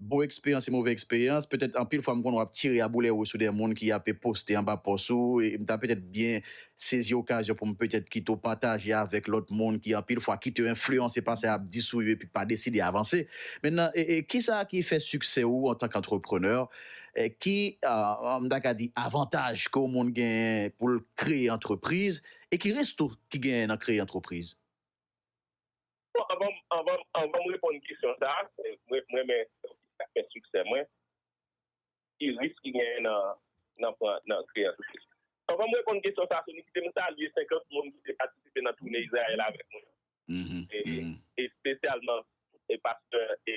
C: Bon eksperyans e move eksperyans, petèt anpil fwa m konnen w ap tire aboulè ou sou de moun ki ape poste anba pòs ou e m ta petèt byen sezi okazyon pou m petèt kite w pataje avèk lòt moun ki anpil fwa kite yo enfliyanse pa sa y ap di sou yo epi pa deside avanse men nan kisa ki fè siksè ou antank antreprenè ki m ta ka di avantaj ke yon moun genyen pou l kreye antrepriz e ki risk tou ki genyen nan kreye antrepriz? Bon anvan
D: anvan anvan m reponn kesyon sa a mwen m renmen fè siksè mwen ki risk ki genyen nan nan pran nan kreye antrepriz. Anvan m reponn kesyon sa a Sony kite m salye 50 moun ki te patisipe nan toune Izrayèl avèk mwen e espesyalman e pastè e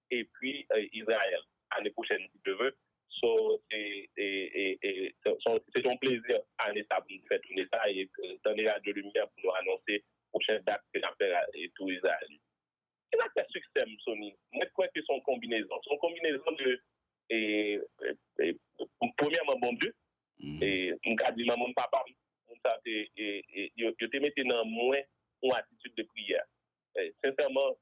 D: epi Israel ane pwochèn si Dieu veut so se se yon plezi ane sa pou nou fè toune sa e tande radyo limyè pou nou anonse pwochèn dat ke nap fè tou Israel ki sak fè siksè m Sony mwen kwè ke son konbinezon son konbinezon de premyèman bon Dieu e m ka di manman m papa m moun sa te yo te mete nan mwen yon atitid de priyè Sensèman,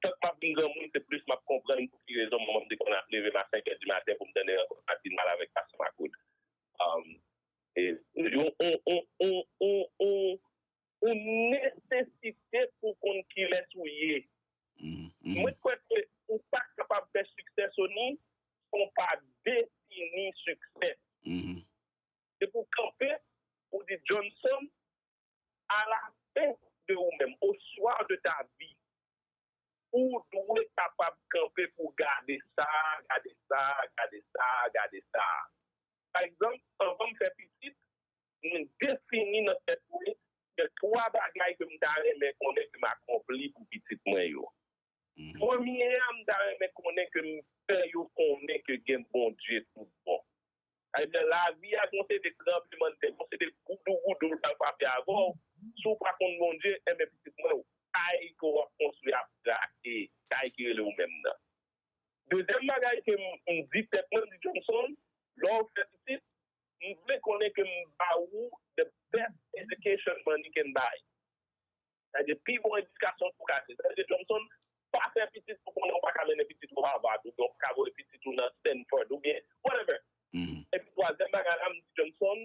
D: tank m ap vin granmoun, se plis m ap konprann pou ki rezon manman m te konn ap leve m a senkè di maten pou m tande rankont Matin Mal avèk Pastè Makout. Yon nesesite pou w konn kilès ou ye. Mwen kwè ke ou pa kapab fè siksè, Sony, san w pa defini siksè. Se pou w kanpe, pou w di Johnson, A la fen de ou menm, au soir de ta vie, ou dwe kapab kanpe pou w gade sa, gade sa, gade sa, gade sa. Pa egzanp, anvan m fè pitit, mwen defini nan tèt mwen gen twa bagay ke m ta renmen konnen ke m akonpli pou pitit mwen yo. Premye a m ta renmen konnen ke m fè yo konnen ke gen Bondye tout bon. Ebyen lavi a gon seri de tranbleman de tè, gon seri de goudougoudou l pral frape avè w, si w pa konn Bondye, enben pitit mwen, kay ke w ap konstwi a ap krake, kay ki rele ou menm nan. Dezyèm bagay ke m di tèt mwen, m di Johnson, lè w fè pitit, m vle konnen ke m ba ou the best education money can buy. Sa de pi bon edikasyon pou ka se. Sa de Johnson, pa fè pitit ou konnen ou pa ka mennen pitit ou Harvard oubyen ou pa ka voye pitit ou nan Stanford oubyen whatever. Epi twazyèm bagay la, m di Johnson,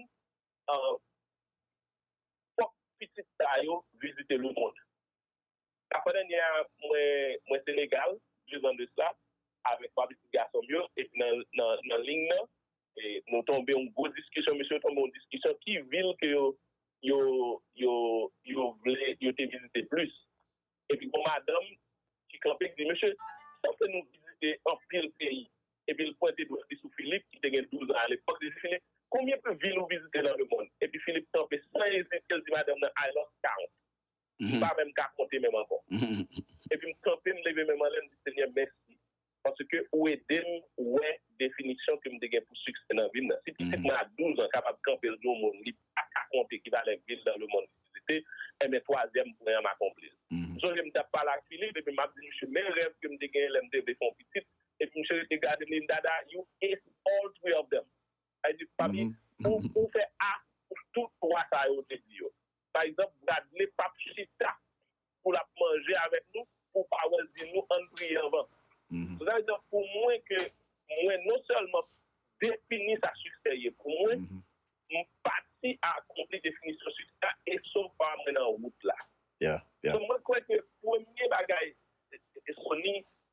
D: fòk pitit sa yo vizite le mond. La fwa dènyè a, mwen Senegal, 2 zan de sla, avèk 3 pitit gason m yo, epi nan ling nan, Nou tonbe yon gwo diskisyon, mesye yo tonbe yon diskisyon ki vil ke yo vle yo te vizite plis. Epi gon madanm ki kanpe ki di, mesye, sa fè nou vizite anpil peyi. Epi l pwente dwèt li sou Filip ki te gen douzan alepòk, li di, Filip, konbyen vil ou vizite nan lemonn? Epi Filip kanpe san ezite, l di madanm nan, I lost count. m pa menm ka konte menm ankò. Epi m kanpe, m leve men m anlè, m di, Senyè, mèsi, paske ou ede m wè definisyon ke m te gen pou siksè nan vi m nan. Si pitit mwen a 12 an kapab kanpe l di yon moun li pa ka konte ki valè vil nan lemonn li vizite, enben twazyèm pwen an m akonpli l. M sonje m t ap pale ak Philippe epi m ap di misye men rèv ke m te genyen lè m te vle fè yon pitit, epi misye rete gade m li di m, Dada, you ace all three of them. Sa vle di, papi, pou fè a pou tout twa sa yo ou te di yo. Pa egzanp, Bradley pap chita pou l ap manje avèk nou pou Powell di nou ann priye anvan. Se sa vle di, pou mwen ke mwen non sèlman defini sa siksè ye pou mwen, m pati a akonpli definisyon siksè a e sofa mwen nan wout la. Donk mwen kwè ke premye bagay, Sony,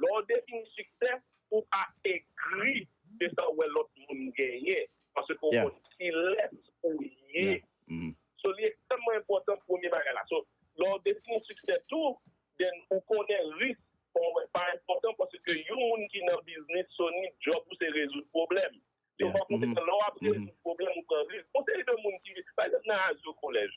D: Lè w defini siksè, ou pa egri de sa w wè lòt moun genyen, paske ou konn kilès ou ye. So, li ekstrèmman enpòtan premye bagay la. So, lè w defini siksè tou, then ou konnen risk sa w wè pa enpòtan paske yon moun ki nan biznis, Sony, djòb ou se rezoud pwoblèm. So, pa konsekan, lè w ap rezoud pwoblèm ou pran risk. Gon seri de moun ki, pa egzanp nan Azyo Kolèj,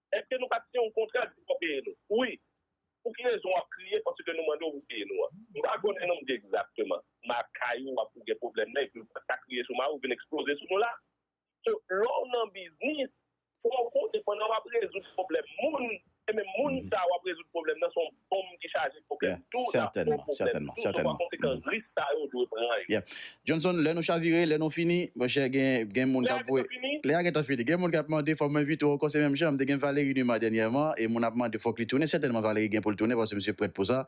D: Eske nou pat siyen yon kontra depi wap peye nou? Wi. Pou ki rezon wap kriye paske nou mandew pou peye nou an? M pa konnen non mnje egzakteman. M a kay ou wap ou gen pwoblèm nan epiw pat ka kriye sou mariw vin eksploze sou nou la. So lèw nan biznis fòw konnen pandan wap rezoud pwoblèm moun e menm moun sa wap rezoud pwoblèm nan son Bonm ki chaje pwoblèm tou nan fò pwoblèm tou, sou
C: pa konsekan risk sa yo dwe pran
D: yo. Yeah. Johnson, lè nou
C: chavire, lè nou fini, monchè gen gen moun k'ap voye. Lè a gentan fini. Gen moun k'ap mande fòm envite w ankò se menm jan, m te gen Valery Numa dènyèman e moun ap mande fòk li tounen, sètènman Valery gen pou l tounen paske misye prèt pou sa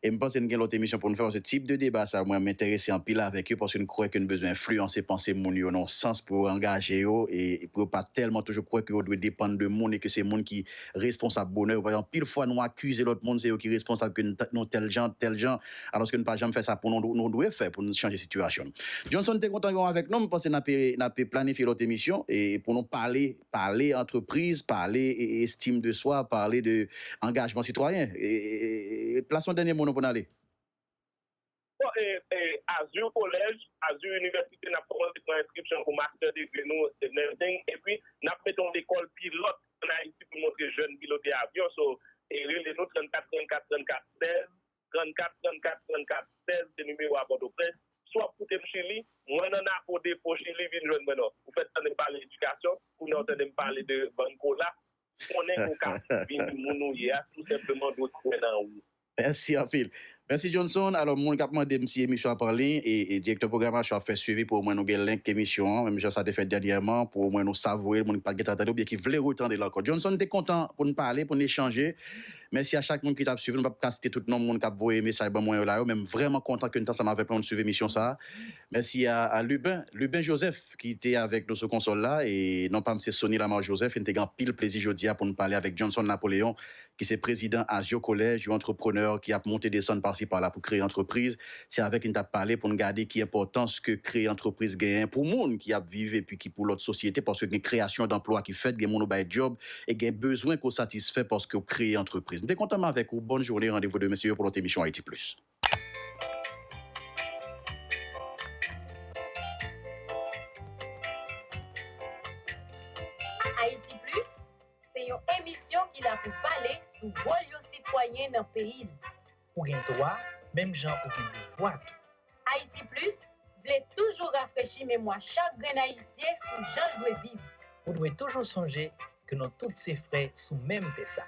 C: e m panse n gen lòt emisyon pou n fè paske tip de deba sa mwen m enterese anpil avèk yo paske n kwè ke n bezwen enfliyanse panse moun yo nan yon sans pou yo angaje yo e pou yo pa tèlman toujou kwè ke yo dwe depann de moun e ke se moun ki responsab bonè yo paske anpil fwa nou akize lòt moun se yo ki responsab ke nou tèl jan, tèl jan alòske nou pa janm fè sa pou nou, nou dwe fè pou nou chanje sitiyasyon n. Johnson te kontan yon avèk nou m panse n ape n ape planifye lòt emisyon e pou nou pale pale antrepriz pale estime de soi pale de angajman sitwayen e plas yon dènye mo nou pou n ale.
D: Azur College, Azur University, nap kòmanse pran enskripsyon pou master degree nou e nursing epi nap mete yon lekòl pilòt an Ayiti pou montre jèn pilote avyon so rele nou 34 34 34 16 34 34 34 16 se nimewo a Pòtoprens Si w ap koute m Chili, mwen nan Napo Depo Chili vin jwenn mwen nan. Ou fèt tande m pale edikasyon, kounye a w tande m pale de bann kola, konnen ke w ka vini moun ou ye a, tou senpleman dwe kwè nan ou. Mèsi anpil.
C: Mèsi Johnson. Alò, moun k ap mande m si emisyon an ap anliy, e Direktè Pwogramasyon ap fè swivi pou omwen nou gen link emisyon an, menm jan sa te fèt dènyèman, pou omwen nou savoure l, moun ki pa t gen tan tande oubyen ki vle retande l ankò. Johnson, m te kontan pou n pale, pou n echanje. Mèsi a chak moun ki t ap swiv nou. M p ap ka site tout non moun k ap voye mesaj ban mwen yo la yo, men m vrèman kontan ke n t ansanm avèk nou, n suiv emisyon sa a. Mèsi a Luben, Luben Joseph, ki te avèk nou sou konsòl la, e non pa m se Sony Lamar Joseph, e n te gen anpil plezi jodi a pou n pale avèk Johnson Napoléon, ki se prezidan Azio College, yon antreprenè ki ap monte desann pasi pala pou kreye antrepriz. Se avèk li n t ap pale pou n gade ki enpòtans ke kreye antrepriz genyen pou moun ki ap viv epi ki pou lòt sosyete, paske gen kreyasyon danplwa ki fèt, gen moun ou bay dyòb, e gen bezwen ke w satisfè paske w kreye antrepriz. M te kontan m avèk ou. Bòn joune, randevou demen se yo pou lòt emisyon Haïti Plus.
A: Haïti Plus se yon emisyon ki la pou pale sou wòl yon sitwayen nan peyi l. Ou gen dwa
B: menm jan ou gen devwa tou. Haïti
A: Plus vle toujou rafrechi memwa chak grenn Ayisyen sou jan l dwe viv. Ou dwe toujou
B: sonje ke nou tout se frè sou menm tè sa.